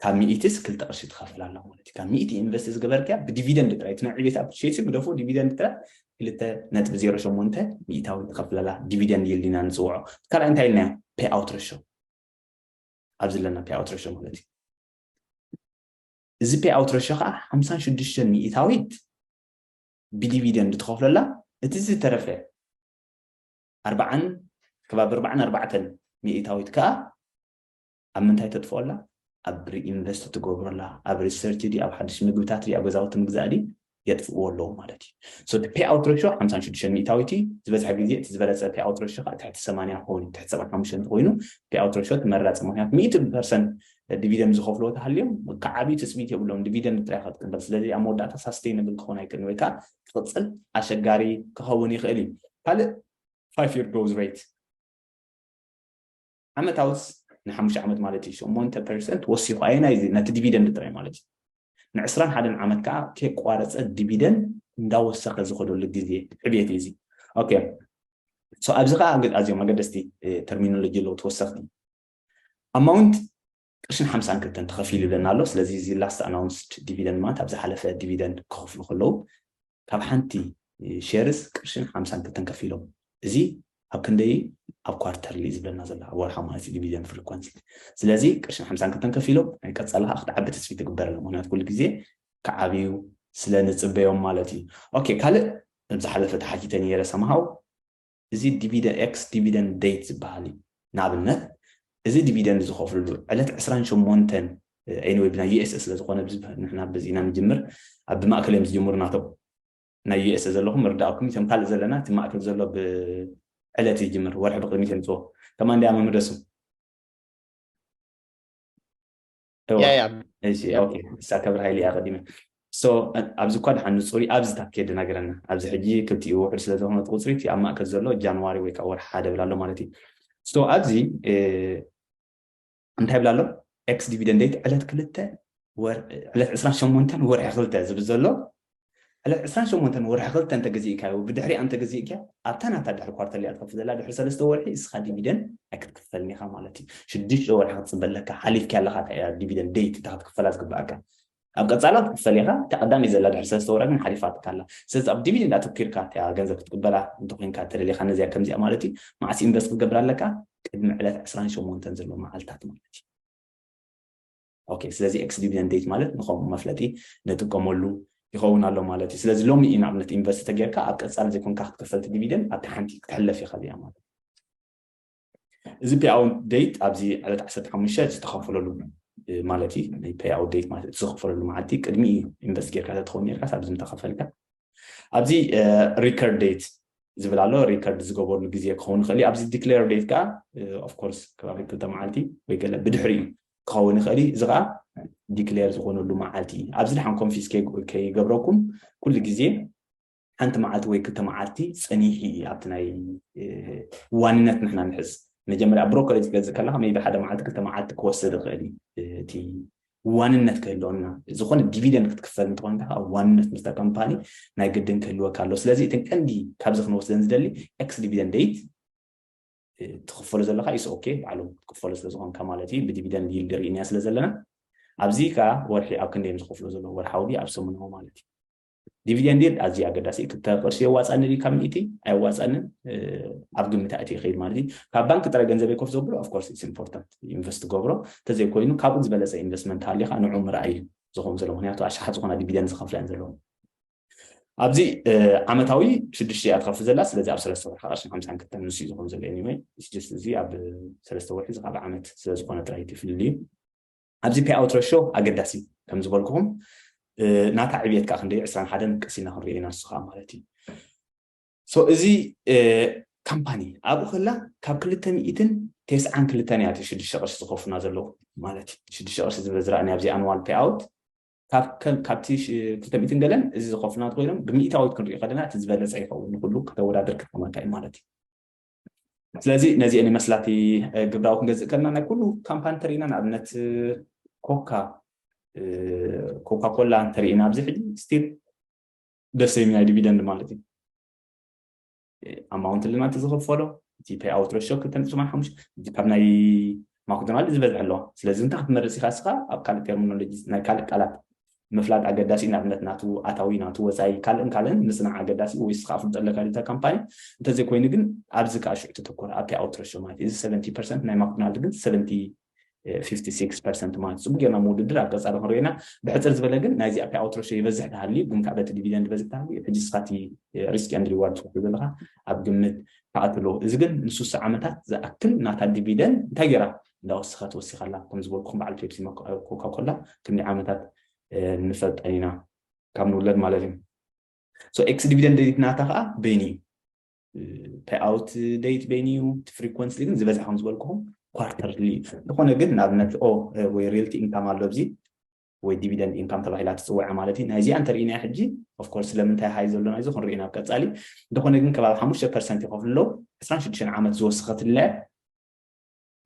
ካብ ሚኢትስ ክልተ ቅርሺ ትኸፍል ኣላ ማለት እዩ ካብ ሚኢቲ ኢንቨስት ዝገበርክያ ብዲቪደንድ ጥራይ እቲ ዕቤት ኣብ ሸይሲ ግደፎ ዲቪደንድ ጥራይ ክልተ ነጥቢ ዜሮ ሸሞንተ ሚእታዊ ትኸፍለላ ዲቪደንድ ይልድ ኢና ንፅውዖ ካልኣይ እንታይ ኢልናዮ ፔይ ኣውት ረሾ ኣብዚ ኣለና ፔይ ኣውት ሬሾ ማለት እዩ እዚ ፔይ ኣውት ረሾ ከዓ ሓምሳን ሽዱሽተን ሚእታዊት ብዲቪደንድ ትኸፍለላ እቲ ዝተረፈ ኣርባዓን ከባቢ ኣርባዓን ኣርባዕተን ሚእታዊት ከዓ ኣብ ምንታይ ተጥፍኦላ ኣብ ሪኢንቨስት ትገብረላ ኣብ ሪሰርች ዲ ኣብ ሓድሽ ምግብታት ዲ ኣብ ገዛውቲ ምግዛእ ዲ የጥፍእዎ ኣለዉ ማለት እዩ። So እቲ payout ratio ሓምሳን ሽዱሽተን ሚእታዊት እዩ። ዝበዝሐ ግዜ እቲ ዝበለጸ payout ratio ከኣ ትሕቲ ሰማንያ ክኸውን እዩ። ትሕቲ ሰብዓን ሓሙሽተን እንተኾይኑ payout ratio ተመራጺ ምኽንያቱ ሚእቲ ፐርሰንት ዲቪደንድ ዝኸፍልዎ እንተሃልዮም ክዓብዩ ትጽቢት የብሎምን ዲቪደንድ ጥራይ ኢኻ ትቅበል። ስለዚ ኣብ መወዳእታ ሳስተይነብል ክኸውን ኣይክእልን ወይ ከኣ ክቕጽል ኣሸጋሪ ክኸውን ይኽእል እዩ። ካልእ ፋይፍ ይር ግሮዝ ሬት። ዓመታውስ ንሓሙሽተ ዓመት ማለት እዩ ሸሞንተ ፐርሰንት ወሲኹ ኣየናይ እዚ ነቲ ዲቪደንድ ጥራይ ማለት እዩ ንዕስራን ሓደን ዓመት ከዓ ከይቋረፀ ዲቪደንድ እንዳወሰኸ ዝኸደሉ ግዜ ዕብየት እዩ እዚ ኦኬ ኣብዚ ከዓ ኣዝዮም ኣገደስቲ ተርሚኖሎጂ ኣለዉ ተወሰኽቲ ኣማውንት ቅርሽን ሓምሳን ክልተን ተኸፊሉለን ኣሎ። ስለዚ እዚ ላስት ኣናውንስድ ዲቪደንድ ማለት ኣብ ዝሓለፈ ዲቪደንድ ክኸፍሉ ከለዉ ካብ ሓንቲ ሼርስ ቅርሽን ሓምሳን ክልተን ከፊሎም እዚ ኣብ ክንደይ እዩ ኣብ ኳርተርሊ ዝብለና ዘሎ ኣብ ወርሓዊ ማለት እዩ ዲቪደንድ ፍሪኮንሲ ስለዚ ቅርሽን ሓምሳን ክልተን ከፊሎም ናይ ቀፃሊ ከዓ ክትዓቢ ተስፊ ትግበረለ ምክንያቱ ኩሉ ግዜ ክዓብዩ ስለ ንፅበዮም ማለት እዩ ኦኬ ካልእ ዝሓለፈ ተሓቲተ ነይረ ሰምሃው እዚ ዲቪደ ኤክስ ዲቪደንድ ደይት ዝበሃል እዩ። ንኣብነት እዚ ዲቪደንድ ዝኸፍልሉ ዕለት ዕስራን ሸሞንተን ኤኒወይ ብናይ ዩኤስኤ ስለ ዝኾነ ንሕና በዚ ኢና ንጅምር ኣብ ብማእከል እዮም ዝጅምሩ ናቶም ናይ ዩኤስኤ ዘለኹም ምርዳእኩም እቶም ካልእ ዘለና እቲ ማእከል ዘሎ ብዕለት ይጅምር ወርሒ ብቅድሚት የምፅዎ ከማን ዲኣ መምደሱ ሳከብር ሃይሊ እያ ቀዲመ ኣብዚ እኳ ድሓን ንፁሪ ኣብዚ ታኬ ድነገረና ኣብዚ ሕጂ ክልቲኡ ውሕድ ስለ ዝኾነ እቲ ቁፅሪ እቲ ኣብ ማእከል ዘሎ ጃንዋሪ ወይ ከዓ ወርሒ ሓደ ብላ ኣሎ ማለት እዩ ሶ ኣብዚ እንታይ ብላ ኣሎ ኤክስ ዲቪደንድ ዴት ዕለት ክልተ ዕለት ዕስራን ሸሞንተን ወርሒ ክልተ ዝብል ዘሎ ዕለት ዕስራን ሸሞንተን ወርሒ ክልተ እንተ ገዚእካዮ ብድሕሪኣ እንተ ገዚእክያ ኣብታ ናታ ድሕሪ ኳርተር እያ ትኸፍል ዘላ ድሕሪ ሰለስተ ወርሒ እስኻ ዲቪደን ኣይክትክፈልን ኢኻ ማለት እዩ ሽዱሽተ ወርሒ ክትጽበ ኣለካ ሓሊፍክያ ኣለኻ እታ እያ ዲቪደን ደይት እታ ክትክፈላ ዝግብኣካ ኣብ ቀጻላ ክትክፈል ኢኻ እታ ቀዳመይ ዘላ ድሕሪ ሰለስተ ወርሒ ግን ሓሊፋትካ ኣላ ስለዚ ኣብ ዲቪደንድ ኣተኪርካ እታ ገንዘብ ክትቅበላ እንተኮይንካ እተደሊኻ ነዚኣ ከምዚኣ ማለት እዩ መዓስ ኢንቨስት ክትገብር ኣለካ ቅድሚ ዕለት ዕስራን ሸሞንተን ዘሎ መዓልታት ማለት እዩ ኦኬ ስለዚ ኤክስ ዲቪደንድ ዴት ማለት ንኸምኡ መፍለጢ ንጥቀመሉ ይኸውን ኣሎ ማለት እዩ ስለዚ ሎሚ እዩ ንኣብነት ኢንቨስት ተጌርካ ኣብ ቀፃሊ ዘይኮንካ ክትከፈልቲ ዲቪደንድ ኣብቲ ሓንቲ ክትሕለፍ ይኽእል እያ ማለት እዚ ፔይ ኣውት ዴት ኣብዚ ዕለት 15 ዝተኸፈለሉ ማለት እዩ ናይ ፔይ ኣውት ዴት ማለት ዝኽፈለሉ መዓልቲ ቅድሚ እዩ ኢንቨስት ጌርካ ተትኸውን ኔርካስ ኣብዚ ምተኸፈልካ ኣብዚ ሪከርድ ዴት ዝብል ኣሎ ሪከርድ ዝገበርሉ ግዜ ክኸውን ይኽእል እዩ ኣብዚ ዲክሌር ዴት ከዓ ኦፍኮርስ ከባቢ ክልተ መዓልቲ ወይ ገለ ብድሕሪ እዩ ክኸውን ይኽእል እዩ እዚ ከዓ ዲክሌር ዝኾነሉ መዓልቲ እዩ ኣብዚ ድሓን ኮንፊስ ከይገብረኩም ኩሉ ግዜ ሓንቲ መዓልቲ ወይ ክልተ መዓልቲ ፀኒሑ እዩ ኣብቲ ናይ ዋንነት ንሕና ንሕዝ መጀመርያ ብሮከሬጅ ገዝእ ከለካ መይቢ ሓደ መዓልቲ ክልተ መዓልቲ ክወስድ ይኽእል እዩ እቲ ዋንነት ክህልወና ዝኾነ ዲቪደንድ ክትክፈል እንተኾንካ ከዓ ዋንነት ምስታ ካምፓኒ ናይ ግድን ክህልወካ ኣለዎ ስለዚ እተን ቀንዲ ካብዚ ክንወስደን ዝደሊ ኤክስ ዲቪደንድ ደይት ትኽፈሎ ዘለካ ኢስ ኦኬ በዓሉ ክትክፈሎ ስለ ዝኾንካ ማለት እዩ ብዲቪደንድ ይልድ ርኢናያ ስለ ዘለና ኣብዚ ከዓ ወርሒ ኣብ ክንደዮም ዝኸፍሎ ዘለዎ ወርሓዊ ኣብ ሰሙናዊ ማለት እዩ ዲቪደንድ ይልድ ኣዝዩ ኣገዳሲ እዩ ክልተ ቅርሺ የዋፃኒ ድዩ ካብ ሚእቲ ኣየዋፃንን ኣብ ግምት ኣእቲ ይኸይድ ማለት እዩ ካብ ባንኪ ጥረ ገንዘበይ ኮፍ ዘብሎ ኣፍኮርስ ኢትስ ኢምፖርታንት ኢንቨስት ትገብሮ እንተዘይኮይኑ ካብኡ ዝበለፀ ኢንቨስትመንት ሃሊኻ ንዑ ምርኣይ እዩ ዝኸውን ዘሎ ምክንያቱ ኣሽሓት ዝኾና ዲቪደንድ ዝኸፍላ እየን ዘለዎም ኣብዚ ዓመታዊ ሽዱሽተ እያ ትኸፍል ዘላ ስለዚ ኣብ ሰለስተ ወርሒ ቅርሽን ሓምሳን ክልተን ንሱ እዩ ዝኾን ዘሎ ኒወይ ስጅስ እዚ ኣብ ሰለስተ ወርሒ እዚ ካብ ዓመት ስለዝኾነ ጥራይ እቲ ፍልልዩ ኣብዚ ፔይኣውት ረሾ ኣገዳሲ እዩ ከም ዝበልኩኹም ናታ ዕብየት ከዓ ክንደይ ዕስራን ሓደን ቀስ ኢልና ክንሪኦ ኢና ንሱ ከዓ ማለት እዩ ሶ እዚ ካምፓኒ ኣብኡ ከላ ካብ ክልተ ሚእትን ቴስዓን ክልተን እያ ሽዱሽተ ቅርሺ ዝኸፍሉና ዘለዉ ማለት እዩ ሽዱሽተ ቅርሺ ዝብል ዝረኣኒ ኣብዚ ኣንዋል ፔይኣውት ካብቲ ክልተ ሚእትን ገለን እዚ ዝኸፍሉና ኮይኖም ብሚእታዊት ክንሪኦ ከለና እቲ ዝበለፀ ይኸውን ንኩሉ ከተወዳድር ክጠቅመካ እዩ ማለት እዩ ስለዚ ነዚኤን ይመስላ እቲ ግብራዊ ክንገዝእ ከለና ናይ ኩሉ ካምፓኒ ተሪእና ንኣብነት ኮካ ኮካ ኮላ እንተሪእና ኣብዚ ሕጂ ስቲል ደሰይም ናይ ዲቪደንድ ማለት እዩ ኣማውንት ልናት ዝኽፈሎ እቲ ፔይ ኣውት ረሾ ክልተ ነጥቢ ሓሙሽተ ካብ ናይ ማክዶናልድ ዝበዝሐ ኣሎ። ስለዚ እንታይ ክትመርጽ ኢኻ እስኻ? ኣብ ካልእ ተርሚኖሎጂ ናይ ካልእ ቃላት ምፍላጥ ኣገዳሲ እዩ፣ ንኣብነት ናቱ ኣታዊ፣ ናቱ ወጻኢ፣ ካልእን ካልእን ምጽናዕ ኣገዳሲ እዩ፣ ወይስ እስኻ ኣፍልጦ ኣለካ ድዩ'ታ ካምፓኒ? እንተዘይኮይኑ ግን ኣብዚ ከኣ ሽዑ ተተኮር፣ ኣብቲ ኣውትሮ ሾው ማለት እዩ። እዚ ሰቨንቲ ፐርሰንት ናይ ማክዶናልድ ግን ሰቨንቲ ፊፍቲ ሲክስ ፐርሰንት ማለት እዩ። ጽቡቕ ጌርና ምውድድር ኣብ ቀጻሊ ክንሪኦ ኢና። ብሕጽር ዝበለ ግን ናይዚ ኣብቲ ኣውትሮ ሾው ይበዝሕ ተሃልዩ፣ ግን ከኣ በቲ ዲቪደንድ ይበዝሕ ተሃልዩ እዩ። ሕጂ እስኻ እቲ ሪስክ ኤንድ ሪዋርድ ትኸፍሎ ዘለኻ ኣብ ግምት ትኣቱ ኣለዎ እዚ ግን ንሱሳ ዓመታት ዝኣክል ናታ ዲቪደን እንታይ ጌራ እንዳወሰኸት ወሲኻ ኣላ ከም ዝበልኩኹም በዓል ፔፕሲ ኮካ ኮላ ክንደይ ዓመታት ንፈልጠን ኢና ካብ ንውለድ ማለት እዩ ሶ ኤክስ ዲቪደን ደይት ናታ ከዓ በይኒ እዩ ፔይ ኣውት ደይት በይኒ እዩ እቲ ፍሪኮንሲ ግን ዝበዝሐ ከም ዝበልኩኹም ኳርተርሊ ዝኾነ ግን ንኣብነት ኦ ወይ ሪልቲ ኢንካም ኣሎ ኣብዚ ወይ ዲቪደንድ ኢንካም ተባሂላ ትጽወዐ ማለት እዩ ናይዚኣ እንተሪኢናያ ሕጂ ኦፍ ኮርስ ስለምንታይ ሃይ ዘሎ ናይዚ ክንሪኦ ናብ ቀጻሊ እንተኾነ ግን ከባቢ ሓሙሽተ ፐርሰንት ይኸፍሉ ኣለዉ ዕስራን ሽዱሽተን ዓመት ዝወሰኸትለ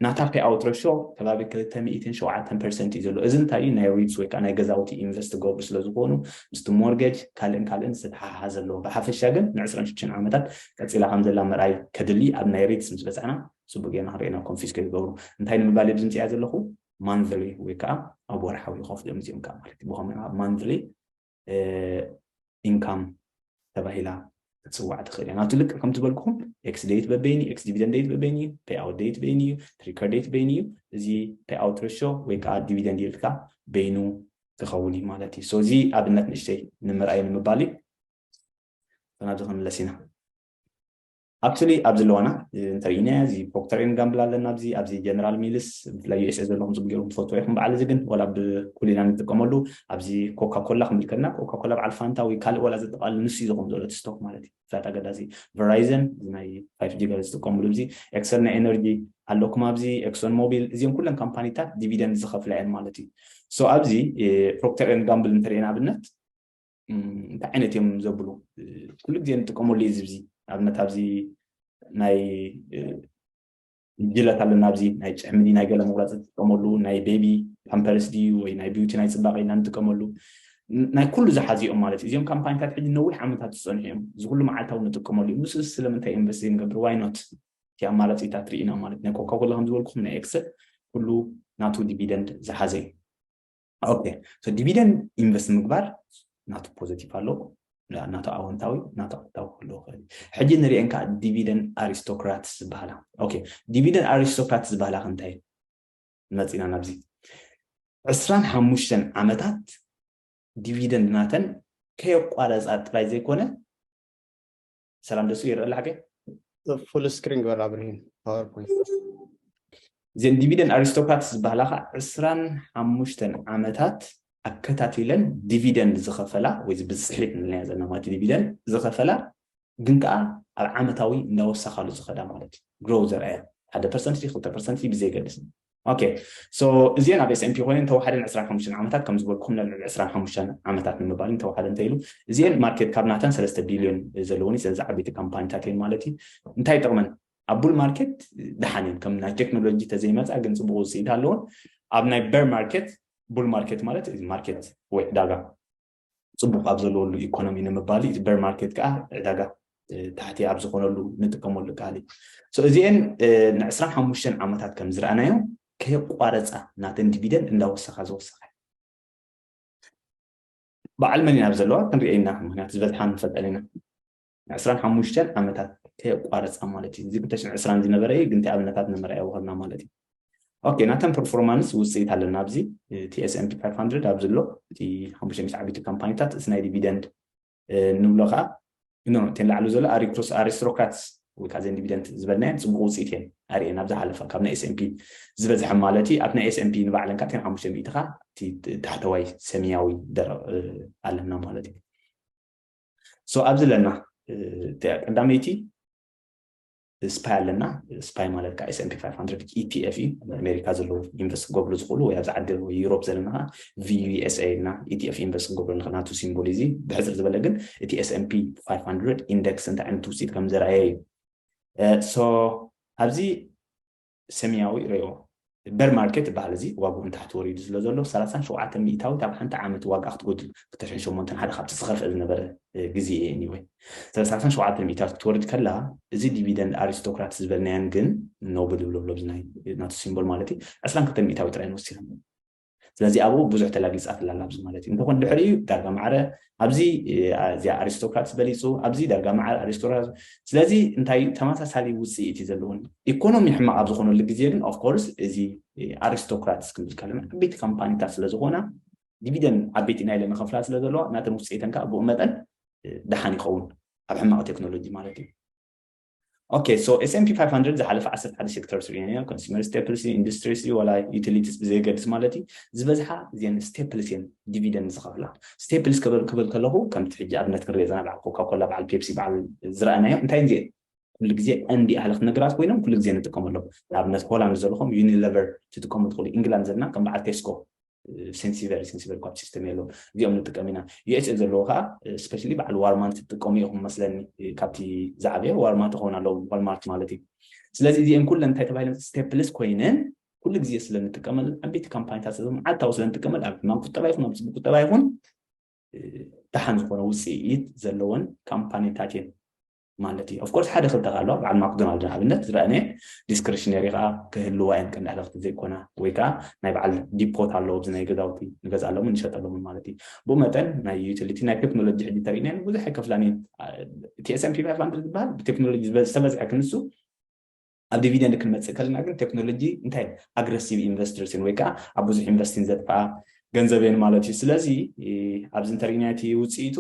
ናታ ፔ ኣውት ረሾ ከባቢ ክልተ ሚእትን ሸውዓተን ፐርሰንት እዩ ዘሎ እዚ እንታይ እዩ ናይ ሪትስ ወይ ከዓ ናይ ገዛውቲ ኢንቨስት ገብሩ ስለ ዝኾኑ ምስቲ ሞርገጅ ካልእን ካልእን ዝተተሓሓዘ ኣለዎ ብሓፈሻ ግን ንዕስራን ሽዱሽተን ዓመታት ቀፂላ ከም ዘላ ምርኣይ ከድሊ ኣብ ናይ ሪትስ ምስ በፃዕና ፅቡቅ ጌርና ክንሪኦ ናብ ኮንፊስከ ዝገብሩ እንታይ ንምባል ብዝምፅያ ዘለኹ ማንዝሊ ወይ ከዓ ኣብ ወርሓዊ ይኸፍልዮም እዚኦም ከዓ ማለት እዩ ብኸመይ ኣብ ማንዝሊ ኢንካም ተባሂላ ክትፅዋዕ ትኽእል እያ ናብቲ ልክዕ ከምቲ በልኩኹም ኤክስ ደይት በበይን እዩ ኤክስ ዲቪደንድ ደይት በበይን እዩ ፔይ ኣውት ደይት በይን እዩ ትሪከር ደይት በይን እዩ እዚ ፔይ ኣውት ረሾ ወይ ከዓ ዲቪደንድ ይልካ በይኑ ክኸውን እዩ ማለት እዩ ሶ እዚ ኣብነት ንእሽተይ ንምርኣይ ንምባል እዩ ናብዚ ክንምለስ ኢና ኣብ ስእሊ ኣብዚ ኣለዋና እንተሪኢናያ እዚ ፕሮክተር ኤንድ ጋምብል ኣለና ኣብዚ ኣብዚ ጀነራል ሚልስ ብፍላይ ዩኤስኤ ዘለኹም ጽቡቅ ጌርኩም ትፈልጥዎ ኢኹም በዓል እዚ ግን ወላ ብኩሊና ንጥቀመሉ ኣብዚ ኮካ ኮላ ክንብል ከለና ኮካ ኮላ በዓል ፋንታ ወይ ካልእ ወላ ዘጠቃልል ንሱ እዩ ዝኾም ዘሎ እቲ ስቶክ ማለት እዩ ፍላት ኣገዳሲ ቨራይዘን እዚ ናይ 5 ጂ ገለ ዝጥቀምሉ እዚ ኤክሰል ናይ ኤነርጂ ኣለኩም ኣብዚ ኤክሶን ሞቢል እዚኦም ኩለን ካምፓኒታት ዲቪደንድ ዝኸፍላ እየን ማለት እዩ ሶ ኣብዚ ፕሮክተር ኤንድ ጋምብል እንተሪኤና ኣብነት እንታይ ዓይነት እዮም ዘብሉ ኩሉ ግዜ ንጥቀመሉ እዩ ዝብዚ ኣብነት ኣብዚ ናይ ጅለት ኣለና ኣብዚ ናይ ጭሕምዲ ናይ ገለ መቁረፂ ትጥቀመሉ ናይ ቤቢ ፓምፐርስ ድዩ ወይ ናይ ቢዩቲ ናይ ፅባቀ ኢና ንጥቀመሉ ናይ ኩሉ ዝሓዙ እዮም ማለት እዩ እዚኦም ካምፓኒታት ሕጂ ነዊሕ ዓመታት ዝፀንሑ እዮም እዚ ኩሉ መዓልታዊ ንጥቀመሉ እዩ ንሱስ ስለምንታይ ኢንቨስት ዘይንገብር ዋይ ኖት እቲ ኣማራፂታት ርኢና ማለት ናይ ኮካኮላ ከምዝበልኩም ናይ ኤክሰል ኩሉ ናቱ ዲቪደንድ ዝሓዘ እዩ ኦኬ ሶ ዲቪደንድ ኢንቨስት ምግባር ናቱ ፖዘቲቭ ኣለዎ ናቱ ኣወንታዊ ናቱ ኣወንታዊ ክህልዎ ክእል ሕጂ ንሪአን ከዓ ዲቪደንድ ኣሪስቶክራትስ ዝበሃላ ኦኬ ዲቪደንድ ኣሪስቶክራትስ ዝበሃላ ክንታይ መፂና ናብዚ ዕስራን ሓሙሽተን ዓመታት ዲቪደንድ ናተን ከየቋረፃ ጥራይ ዘይኮነ ሰላም ደሱ ይረአ ኣላ ሓገይ ፉል ስክሪን ግበር ኣብርሂን ፓወርፖይንት እዘን ዲቪደን ኣሪስቶክራትስ ዝበሃላ ከዓ ዕስራን ሓሙሽተን ዓመታት ኣከታቲለን ዲቪደን ዝኸፈላ ወይ ብፅሒት ንለያ ዘለና ማለት ዲቪደን ዝኸፈላ ግን ከዓ ኣብ ዓመታዊ እንዳወሰኻሉ ዝኸዳ ማለት እዩ ግሮው ዘርኣያ ሓደ ፐርሰንቲ ክልተ ፐርሰንቲ ብዘይገድስ ኦኬ ሶ እዚኤን ኣብ ኤስኤምፒ ኮይነን ተዋሓደን ዕስራን ሓሙሽተን ዓመታት ከም ዝበልኩም ናብ ልዕሊ ዕስራን ሓሙሽተን ዓመታት ንምባልን ተዋሓደ እንተይሉ እዚኤን ማርኬት ካብ ናተን ሰለስተ ቢልዮን ዘለወን እዩ ስለዚ ዓበይቲ ካምፓኒታት እየን ማለት እዩ እንታይ ይጠቕመን ኣብ ቡል ማርኬት ደሓን እየን ከም ናይ ቴክኖሎጂ ተዘይመፃ ግን ፅቡቅ ውፅኢት ኣለዎን ኣብ ናይ በር ማርኬት ቡል ማርኬት ማለት ማርኬት ወይ ዕዳጋ ጽቡቕ ኣብ ዘለወሉ ኢኮኖሚ ንምባል እዩ። እቲ በር ማርኬት ከኣ ዕዳጋ ታሕቲ ኣብ ዝኾነሉ ንጥቀመሉ ቃል እዩ። ሶ እዚኤን ንዕስራን ሓሙሽተን ዓመታት ከም ዝረኣናዮ ከየቋረጻ ናተን ዲቪደንድ እንዳወሰኻ ዝወሰኻ በዓል መን ኢና ኣብ ዘለዋ ክንሪኤ ኢና ምክንያቱ ዝበዝሓ ንፈልጠን ኢና። ንዕስራን ሓሙሽተን ዓመታት ከየቋረፃ ማለት እዩ። እዚ ብተሽን ዕስራን ዝነበረ እዩ፣ ግን እቲ ኣብነታት ንመርኣያ ወሃብና ማለት እዩ። ኦኬ ናተን ፐርፎርማንስ ውፅኢት ኣለና ኣብዚ እቲ ኤስኤምፒ 500 ኣብዚ ኣሎ እቲ ሓሙሽተ ሚስት ዓበይቲ ካምፓኒታት እቲ ናይ ዲቪደንድ ንብሎ ከዓ ኖ እተን ላዕሉ ዘሎ ኣሪክሮስ ኣሪስትሮክራትስ ወይ ከዓ ዘን ዲቪደንድ ዝበልናየን ፅቡቅ ውፅኢት እየን ኣርእየን ኣብ ዝሓለፈ ካብ ናይ ኤስኤምፒ ዝበዝሐ ማለት እዩ ኣብ ናይ ኤስኤምፒ ንባዕለን ከዓ እተን ሓሙሽተ ሚእቲ ከዓ እቲ ታሕተዋይ ሰሚያዊ ኣለና ማለት እዩ ሶ ኣብዚ ኣለና እንታይ እያ ቀዳመይቲ ስፓይ ኣለና ስፓይ ማለት ከዓ ኤስኤምፒ 500 ኢቲኤፍ እዩ ኣሜሪካ ዘለዉ ኢንቨስት ክገብሩ ዝኽእሉ ወይ ኣብዚ ዓዲ ወይ ዩሮፕ ዘለና ከዓ ቪዩኤስኤ ኢልና ኢቲኤፍ ኢንቨስት ክንገብሩ ንኽእል ናቱ ሲምቦል እዚ ብሕፅር ዝበለ ግን እቲ ኤስኤምፒ 500 ኢንደክስ እንታይ ዓይነት ውፅኢት ከም ዘርኣየ እዩ ሶ ኣብዚ ሰሚያዊ ሬዎ በር ማርኬት ይበሃል እዚ ዋግኡ ንታሕቲ ወሪዱ ስለ ዘሎ ሰላሳን ሸውዓተን ሚኢታዊት ኣብ ሓንቲ ዓመት ዋግኣ ክትጎድል ክልተ ሽሕን ሸሞንተን ሓደ ካብቲ ዝኸፍኤ ዝነበረ ግዜ እየ ኒወይ ሰላሳን ሸውዓተን ሚኢታዊት ክትወርድ ከላ እዚ ዲቪደንድ ኣሪስቶክራትስ ዝበልናየን ግን ኖብል ብሎብሎብዝ ናይ ናቱ ሲምቦል ማለት እዩ ዕስራን ክልተን ሚኢታዊት ጥራየን ወሲኸን ስለዚ ኣብኡ ብዙሕ ተላጊጻትላ ኣላ ኣብዚ ማለት እዩ እንተኾን ድሕሪኡ ዳርጋ ማዕረ ኣብዚ እዚኣ ኣሪስቶክራትስ በሊጹ ኣብዚ ዳርጋ ማዕረ ኣሪስቶክራትስ ስለዚ እንታይ እዩ ተመሳሳሊ ውጽኢት እዩ ዘለዎን ኢኮኖሚ ሕማቕ ኣብ ዝኾነሉ ግዜ ግን ኦፍኮርስ እዚ ኣሪስቶክራትስ ክንብል ከለና ዓበይቲ ካምፓኒታት ስለ ዝኾና ዲቪደን ዓበይቲ ናይ ኢለን ኸፍላ ስለ ዘለዋ ናተን ውፅኢተን ከዓ ብኡ መጠን ደሓን ይኸውን ኣብ ሕማቕ ቴክኖሎጂ ማለት እዩ ኦኬ ሶ ኤስኤምፒ ፋይቭ ሃንድረድ ዝሓለፈ ዓሰርተ ሓደ ሴክተርስ ርኢና ኢና ኮንስመር ስቴፕልስ እዩ ኢንዱስትሪስ እዩ ዋላ ዩቲሊቲስ ብዘየገድስ ማለት እዩ ዝበዝሓ እዚን ስቴፕልስ እየን ዲቪደንድ ዝኸፍላ ስቴፕልስ ክብል ክብል ከለኹ ከምቲ ሕጂ ኣብነት ክንሪኦ ዘለና በዓል ኮካኮላ በዓል ፔፕሲ በዓል ዝረኣናዮ እንታይ እዚኤን ኩሉ ግዜ እንዲ ኣህለኽ ነገራት ኮይኖም ኩሉ ግዜ ንጥቀመሎም ንኣብነት ሆላንድ ዘለኹም ዩኒለቨር ትጥቀሙ ትኽእሉ ኢንግላንድ ዘለና ከም በዓል ቴስኮ ሴንሲቨር ሴንሲቨር ኳት ሲስተም የለዎም እዚኦም ንጥቀም ኢና ዩኤስኤ ዘለዎ ከዓ ስፔሻሊ በዓል ዋርማንት ትጥቀሙ ኢኹም መስለኒ ካብቲ ዝዓበየ ዋርማት ክኸውን ኣለዎም ዋልማርት ማለት እዩ ስለዚ እዚአን ኩለን እንታይ ተባሂለን ስቴፕልስ ኮይነን ኩሉ ግዜ ስለ እንጥቀመለን ዓበይቲ ካምፓኒታት መዓልታዊ ስለ እንጥቀመል ኣብ ሕማም ቁጠባ ይኹን ኣብ ፅቡቅ ቁጠባ ይኹን ደሓን ዝኾነ ውፅኢት ዘለወን ካምፓኒታት እየን ማለት እዩ ኦፍኮርስ ሓደ ክልተ ከ ኣለዋ በዓል ማክዶናልድ ንኣብነት ዝረኣነ ዲስክሪሽነሪ ከዓ ክህልዋ እየን ቀንዲ ሃለኽቲ ዘይኮና ወይ ከዓ ናይ በዓል ዲፖት ኣለዎ ኣብዚ ናይ ገዛውቲ ንገዝኣሎምን ንሸጠሎምን ማለት እዩ ብኡ መጠን ናይ ዩቲሊቲ ናይ ቴክኖሎጂ ሕጂ ተርእና ብዙሕ ኣይከፍላን እየን እቲ ኤስምፒ ፋይቭ ሃንድረድ ዝበሃል ብቴክኖሎጂ ዝተበዝሐ ክንሱ ኣብ ዲቪደንድ ክንመፅእ ከለና ግን ቴክኖሎጂ እንታይ ኣግረሲቭ ኢንቨስተርስ እየን ወይ ከዓ ኣብ ብዙሕ ኢንቨስቲን ዘጥፍኣ ገንዘብ እየን ማለት እዩ ስለዚ ኣብዚ እንተሪእናዮ እቲ ውፅኢቱ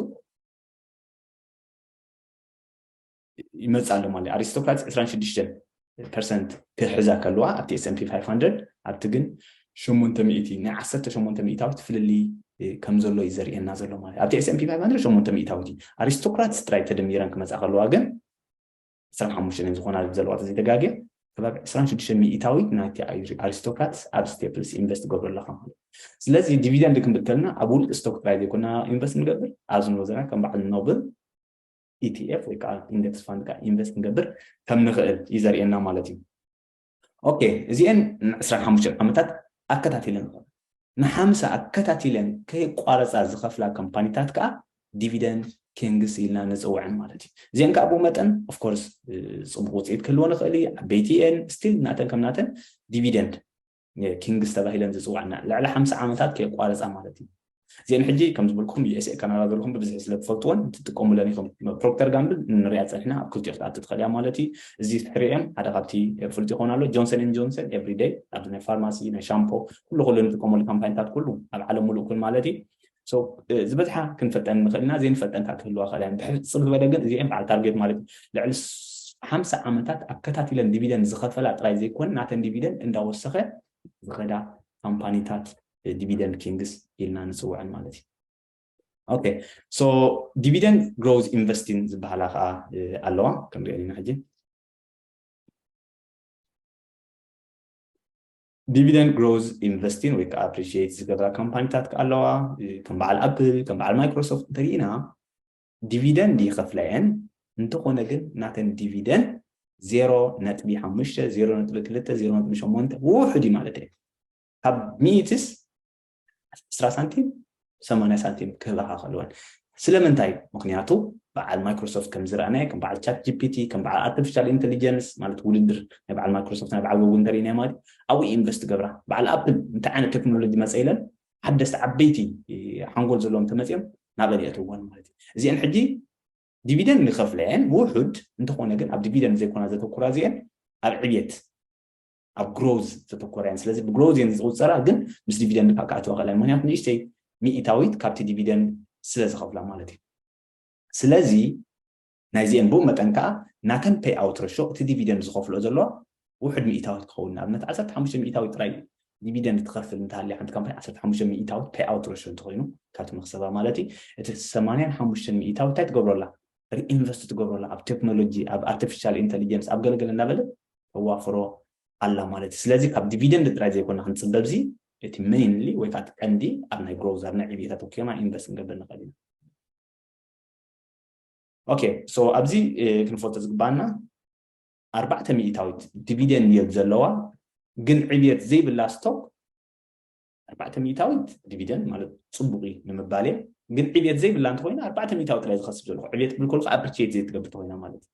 ይመፅእ ኣሎ ማለት ኣሪስቶክራትስ 26 ፐርሰንት ክሕዛ ከለዋ ኣብቲ ኤስኤምፒ 500 ኣብቲ ግን ሸሞንተ ሚእቲ ናይ ዓሰርተ ሸሞንተ ሚእታዊት ፍልልይ ከም ዘሎ እዩ ዘርእየና ዘሎ ማለት ኣብቲ ኤስኤምፒ 500 ሸሞንተ ሚእታዊት እዩ ኣሪስቶክራትስ ጥራይ ተደሚረን ክመፃ ከለዋ ግን 25 እየን ዝኾና ዘለዋ ተዘይተጋግየ ከባቢ ዕስራን ሽዱሽተን ሚኢታዊት ናይቲ ኣሪስቶክራትስ ኣብ ስቴፕልስ ኢንቨስት ትገብሩ ኣለኻ ማለት እዩ። ስለዚ ዲቪደንድ ክንብል ከለና ኣብ ውልቂ ስቶክ ጥራይ ዘይኮና ኢንቨስት ንገብር፣ ኣብዚ ንብሎ ዘለና ከም በዓል ኖብል ኢቲኤፍ ወይ ከዓ ኢንደክስ ፋንድ ከዓ ኢንቨስት ክንገብር ከም ንኽእል እዩ ዘርእየና ማለት እዩ። ኦኬ እዚኤን ንዕስራን ሓሙሽተን ዓመታት ኣከታቲለን ንሓምሳ ኣከታቲለን ከይቋረጻ ዝኸፍላ ካምፓኒታት ከኣ ዲቪደንድ ኪንግስ ኢልና ንጽውዐን ማለት እዩ። እዚኤን ከኣ ብኡ መጠን ኦፍ ኮርስ ጽቡቕ ውጽኢት ክህልወን ይኽእል እዩ፣ ዓበይቲ እየን፣ ስቲል ናተን ከም ናተን ዲቪደንድ ኪንግስ ተባሂለን ዝጽውዓ እና። ልዕሊ ሓምሳ ዓመታት ከየቋረጻ ማለት እዩ። እዚኤን ሕጂ ከም ዝበልኩኹም USA ካናዳ ዘለኹም ብብዝሒ ስለ ትፈልጥወን ትጥቀሙለን ኢኹም ፕሮክተር ጋምብል ንሪኣ ጸኒሕና ኣብ ክልቲኦ ክትኣቱ ትኽእል እያ ማለት እዩ እዚ ትሕሪኦ እየን ሓደ ካብቲ ፍሉጥ ይኸውን ኣሎ ጆንሰን ኤንድ ጆንሰን ኤቭሪ ደይ ኣብዚ ናይ ፋርማሲ ናይ ሻምፖ ኩሉ ኩሉ ንጥቀመሉ ካምፓኒታት ኩሉ ኣብ ዓለም ሙሉእ ኩን ማለት እዩ ሶ ዝበዝሓ ክንፈልጠን ንኽእል ኢና ዘይንፈልጠን ከዓ ክህልዋ ክእል እየን ብሕጽር ዝበለ ግን እዚኤን በዓል ታርጌት ማለት ልዕሊ ሓምሳ ዓመታት ኣከታቲለን ዲቪደን ዝኸፈላ ጥራይ ዘይኮነ ናተን ዲቪደን እንዳወሰኸ ዝኸዳ ካምፓኒታት ዲቪደንድ ኪንግስ ኢልና ንፅውዐን ማለት እዩ ኦኬ ሶ ዲቪደንድ ግሮዝ ኢንቨስቲን ዝበሃላ ከዓ ኣለዋ ከምሪኦ ኢና ሕጂ ዲቪደንድ ግሮዝ ኢንቨስቲን ወይ ከዓ ኣፕሪሽት ዝገብራ ካምፓኒታት ከዓ ኣለዋ ከም በዓል ኣፕል ከም በዓል ማይክሮሶፍት እንተሪኢና ዲቪደንድ ይኸፍላ እየን እንተኾነ ግን ናተን ዲቪደንድ ዜሮ ነጥቢ ሓሙሽተ ዜሮ ነጥቢ ክልተ ዜሮ ነጥቢ ሸሞንተ ውሑድ እዩ ማለት እዩ ካብ ሚኢትስ ዕስራ ሳንቲም ሰማንያ ሳንቲም ክህባኻ ከለወን ስለምንታይ ምክንያቱ በዓል ማይክሮሶፍት ከም ዝረኣናዮ ከም በዓል ቻት ጂፒቲ ከም በዓል ኣርቲፊሻል ኢንቴሊጀንስ ማለት ውድድር ናይ በዓል ማይክሮሶፍት ናይ በዓል ጎግል እንተሪእናዮ ማለት ኣብኡ ኢንቨስት ገብራ በዓል ኣፕል እንታይ ዓይነት ቴክኖሎጂ መፀ ኢለን ሓደስቲ ዓበይቲ ሓንጎል ዘለዎም ተመፅኦም ናበን የእትዎን ማለት እዩ እዚአን ሕጂ ዲቪደን ይኸፍለየን ውሑድ እንተኾነ ግን ኣብ ዲቪደን ዘይኮና ዘተኩራ እዚአን ኣብ ዕብየት ኣብ ግሮዝ ዘተኮረ እየን ስለዚ ብግሮዝ እየን ዝቁፀራ ግን ምስ ዲቪደንድ ከዓ ክኣተዋ ክእለን ምክንያቱ ንእሽተይ ሚኢታዊት ካብቲ ዲቪደንድ ስለ ዝኸፍላ ማለት እዩ ስለዚ ናይዚአን ብኡ መጠን ከዓ ናተን ፔይ ኣውት ረሾ እቲ ዲቪደንድ ዝኸፍሎ ዘለዋ ውሕድ ሚኢታዊት ክኸውን ንኣብነት 15 ሚኢታዊት ጥራይ ዲቪደንድ ትኸፍል እንተሃልያ ሓንቲ ካምፓኒ 15 ሚኢታዊት ፔይ ኣውት ረሾ እንተኮይኑ ካብቲ መክሰባ ማለት እዩ እቲ 85 ሚኢታዊት እንታይ ትገብረላ ሪኢንቨስት ትገብረላ ኣብ ቴክኖሎጂ ኣብ ኣርቲፊሻል ኢንቴሊጀንስ ኣብ ገለገለ እናበለት ተዋፍሮ ኣላ ማለት እዩ። ስለዚ ካብ ዲቪደንድ ጥራይ ዘይኮና ክንጽበ ብዚ እቲ ሜይንሊ ወይ ከዓ እቲ ቀንዲ ኣብ ናይ ግሮውዝ ኣብ ናይ ዕብየት ኣተኲርና ኢንቨስት ክንገብር ንኽእል ኢና። ኦኬ ሶ ኣብዚ ክንፈልጦ ዝግባኣና ኣርባዕተ ሚእታዊት ዲቪደንድ ዮልድ ዘለዋ ግን ዕብየት ዘይብላ ስቶክ ኣርባዕተ ሚእታዊት ዲቪደንድ ማለት ፅቡቅ እዩ ንምባል እየ ግን ዕብየት ዘይብላ እንተኮይና ኣርባዕተ ሚእታዊት ጥራይ ዝኸስብ ዘለኹ ዕብየት ብል ከልኩ ኣብርቼት ዘይትገብር ተኮይና ማለት እዩ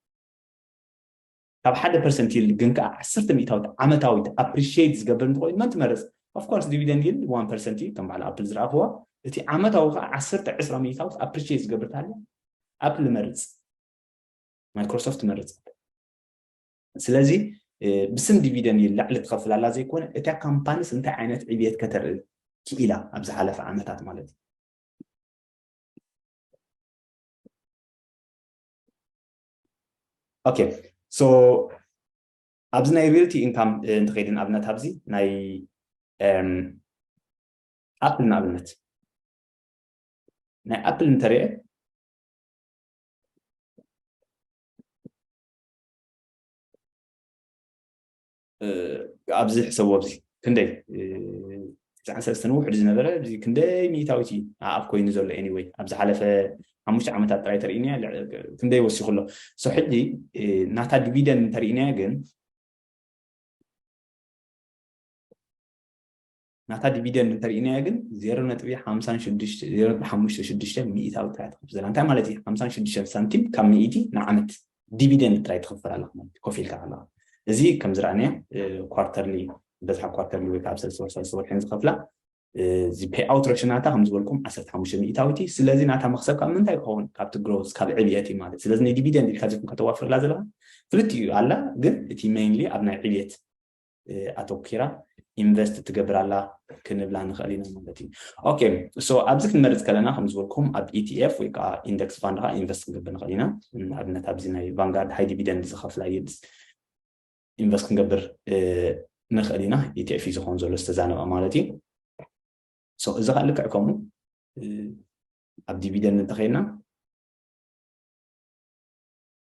ካብ ሓደ ፐርሰንት ይልድ ግን ከኣ ዓሰርተ ሚእታዊት ዓመታዊት ኣፕሪሽየይት ዝገብር እንተኾይኑ መን ትመርጽ? ኦፍ ኮርስ ዲቪደንድ ይልድ ዋን ፐርሰንት እዩ ከም በዓል ኣፕል ዝረኣኽዎ። እቲ ዓመታዊ ከኣ ዓሰርተ ዕስራ ሚእታዊት ኣፕሪሽየይት ዝገብር እንተሃልዩ ኣፕል እመርጽ። ማይክሮሶፍት እመርጽ። ስለዚ ብስም ዲቪደንድ ይልድ ላዕሊ ትኸፍል ኣላ ዘይኮነ እታ ካምፓኒስ እንታይ ዓይነት ዕብየት ከተርኢ ክኢላ ኣብ ዝሓለፈ ዓመታት ማለት እዩ። ኦኬ ሶ ኣብዚ ናይ ሪልቲ ኢንካም እንተኸይዲ ንኣብነት ኣብዚ ናይ ኣፕል ንኣብነት ናይ ኣፕል እንተሪአ ኣብዚ ሕሰቦ ኣብዚ ክንደይ ትስዓን ሰለስተን ውሕድ ዝነበረ እዚ ክንደይ ሚእታዊት እዩ ኣኣብ ኮይኑ ዘሎ ኤኒወይ ኣብ ዝሓለፈ ሓሙሽተ ዓመታት ጥራይ ተርእዩኒያ ክንደይ ወሲኹ ኣሎ ሶ ሕጂ ናታ ዲቪደን እንተርእዩናያ ግን ናታ ዲቪደንድ እንተርኢናዮ ግን ዜሮ ነጥቢ ሓምሳን ሽዱሽተ ዜሮ ነጥቢ ሓሙሽተ ሽዱሽተ ሚእታዊ ጥራይ ትኸፍል ዘላ እንታይ ማለት እዩ ሓምሳን ሽዱሽተን ሳንቲም ካብ ሚእቲ ንዓመት ዲቪደንድ ጥራይ ትኸፍል ኣለካ ማለት እዩ ኮፍ ኢልካ ኣለካ እዚ ከም ዝረኣናዮ ኳርተርሊ በዝሓ ኳርተርሊ ወይ ከዓ ኣብ ሰለስተ ወር ሰለስተ ወርሕን ዝኸፍላ እዚ ፔይ ኣውት ረሽናታ ከም ዝበልኩም ዓሰርተ ሓሙሽተ ሚእታዊት እዩ ስለዚ ናታ መክሰብ ካብ ምንታይ ክኸውን ካብቲ ግሮዝ ካብ ዕብየት እዩ ማለት ስለዚ ንዲቪደንድ ኢልካ ዚኩም ከተዋፍርላ ዘለካ ክልቲኡ ኣላ ግን እቲ ሜይንሊ ኣብ ናይ ዕብየት ኣተኪራ ኢንቨስት ትገብር ኣላ ክንብላ ንኽእል ኢና ማለት እዩ ኦኬ ሶ ኣብዚ ክንመርፅ ከለና ከም ዝበልኩም ኣብ ኢቲኤፍ ወይ ከዓ ኢንደክስ ፋንድ ከዓ ኢንቨስት ክንገብር ንኽእል ኢና ንኣብነት ኣብዚ ናይ ቫንጋርድ ሃይ ዲቪደንድ ዝኸፍላ ይልስ ኢንቨስት ክንገብር ንኽእል ኢና ኢቲኤፍ እዩ ዝኾን ዘሎ ዝተዛነበ ማለት እዩ ሶ እዚ ከዓ ልክዕ ከምኡ ኣብ ዲቪደንድ እንተኸይድና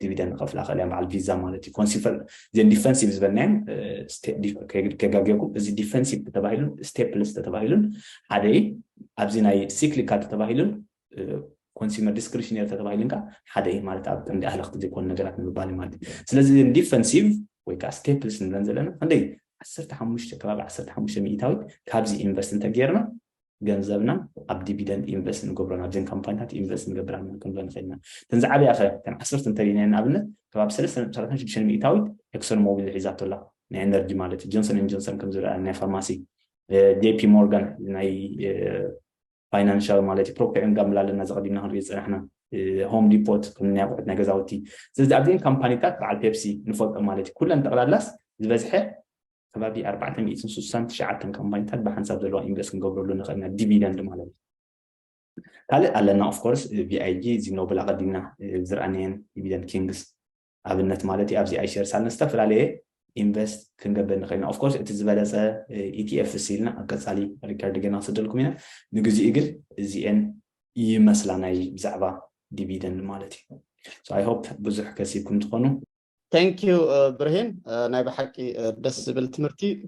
ዲቪደን ክኸፍላ ክእል እያ በዓል ቪዛ ማለት እዩ ኮንሲፈር እዚን ዲፈንሲቭ ዝበልናዮም ከጋግየኩም እዚ ዲፈንሲቭ ተተባሂሉን ስቴፕልስ ተተባሂሉን ሓደ እዩ ኣብዚ ናይ ሲክሊካል ተተባሂሉን ኮንሱመር ዲስክሪሽነሪ ተተባሂሉን ከዓ ሓደ እዩ ማለት ኣብ ቀንዲ ኣህለኽቲ ዘይኮኑ ነገራት ንምባል እዩ ማለት እዩ ስለዚ ዲፈንሲቭ ወይ ከዓ ስቴፕልስ ንብለን ዘለና ክንደይ ዓሰርተ ሓሙሽተ ከባቢ ዓሰርተ ሓሙሽተ ሚእታዊት ካብዚ ኢንቨስት እንተገይርና ገንዘብና ኣብ ዲቪደንድ ኢንቨስት ንገብሮ ናብዘን ካምፓኒታት ኢንቨስት ንገብር ኣለና ክንብለን ንኽእል ኢና። እተን ዝዓበያ ከ እተን ዓሰርተ እንተሪእናየን ንኣብነት ከባቢ ሰለስተ ነጥቢ ሰላሳን ሽዱሽተን ሚእታዊት ኤክሶን ሞቢል ሒዛቶ ኣላ ናይ ኤነርጂ ማለት እዩ ጆንሰን ኤንድ ጆንሰን ከም ዝረኣየና ናይ ፋርማሲ ጄፒ ሞርጋን ናይ ፋይናንሻል ማለት እዩ ፕሮክተር ኤንድ ጋምብል ኣለና ዘቐዲምና ክንሪኦ ዝፀናሕና ሆም ዲፖት ከም ናይ ኣቑሑት ናይ ገዛውቲ ስለዚ ኣብዚኤን ካምፓኒታት በዓል ፔፕሲ ንፈልጦም ማለት እዩ ኩለን ጠቕላላስ ዝበዝሐ ከባቢ ኣርባዕተ ሚእትን ስሳን ትሽዓተን ካምፓኒታት ብሓንሳብ ዘለዋ ኢንቨስት ክንገብረሉ ንኽእል ኢና ዲቪደንድ ማለት እዩ ካልእ ኣለና ኦፍ ኮርስ ቪኣይጂ ዚኖብል ኣቐዲምና ዝረኣናየን ዲቪደንድ ኪንግስ ኣብነት ማለት እዩ ኣብዚ ኣይሸር ሳልን ዝተፈላለየ ኢንቨስት ክንገብር ንኽእል ኢና ኦፍኮርስ እቲ ዝበለፀ ኢቲኤፍ ስኢልና ኣብ ቀፃሊ ሪከርድ ገና ክስደልኩም ኢና ንግዚኡ ግን እዚኤን ይመስላ ናይ ብዛዕባ ዲቪደንድ ማለት እዩ ኣይ ሆፕ ብዙሕ ከሲብኩም ትኾኑ Thank you ብርሂን ናይ ብሓቂ ደስ ዝብል ትምህርቲ።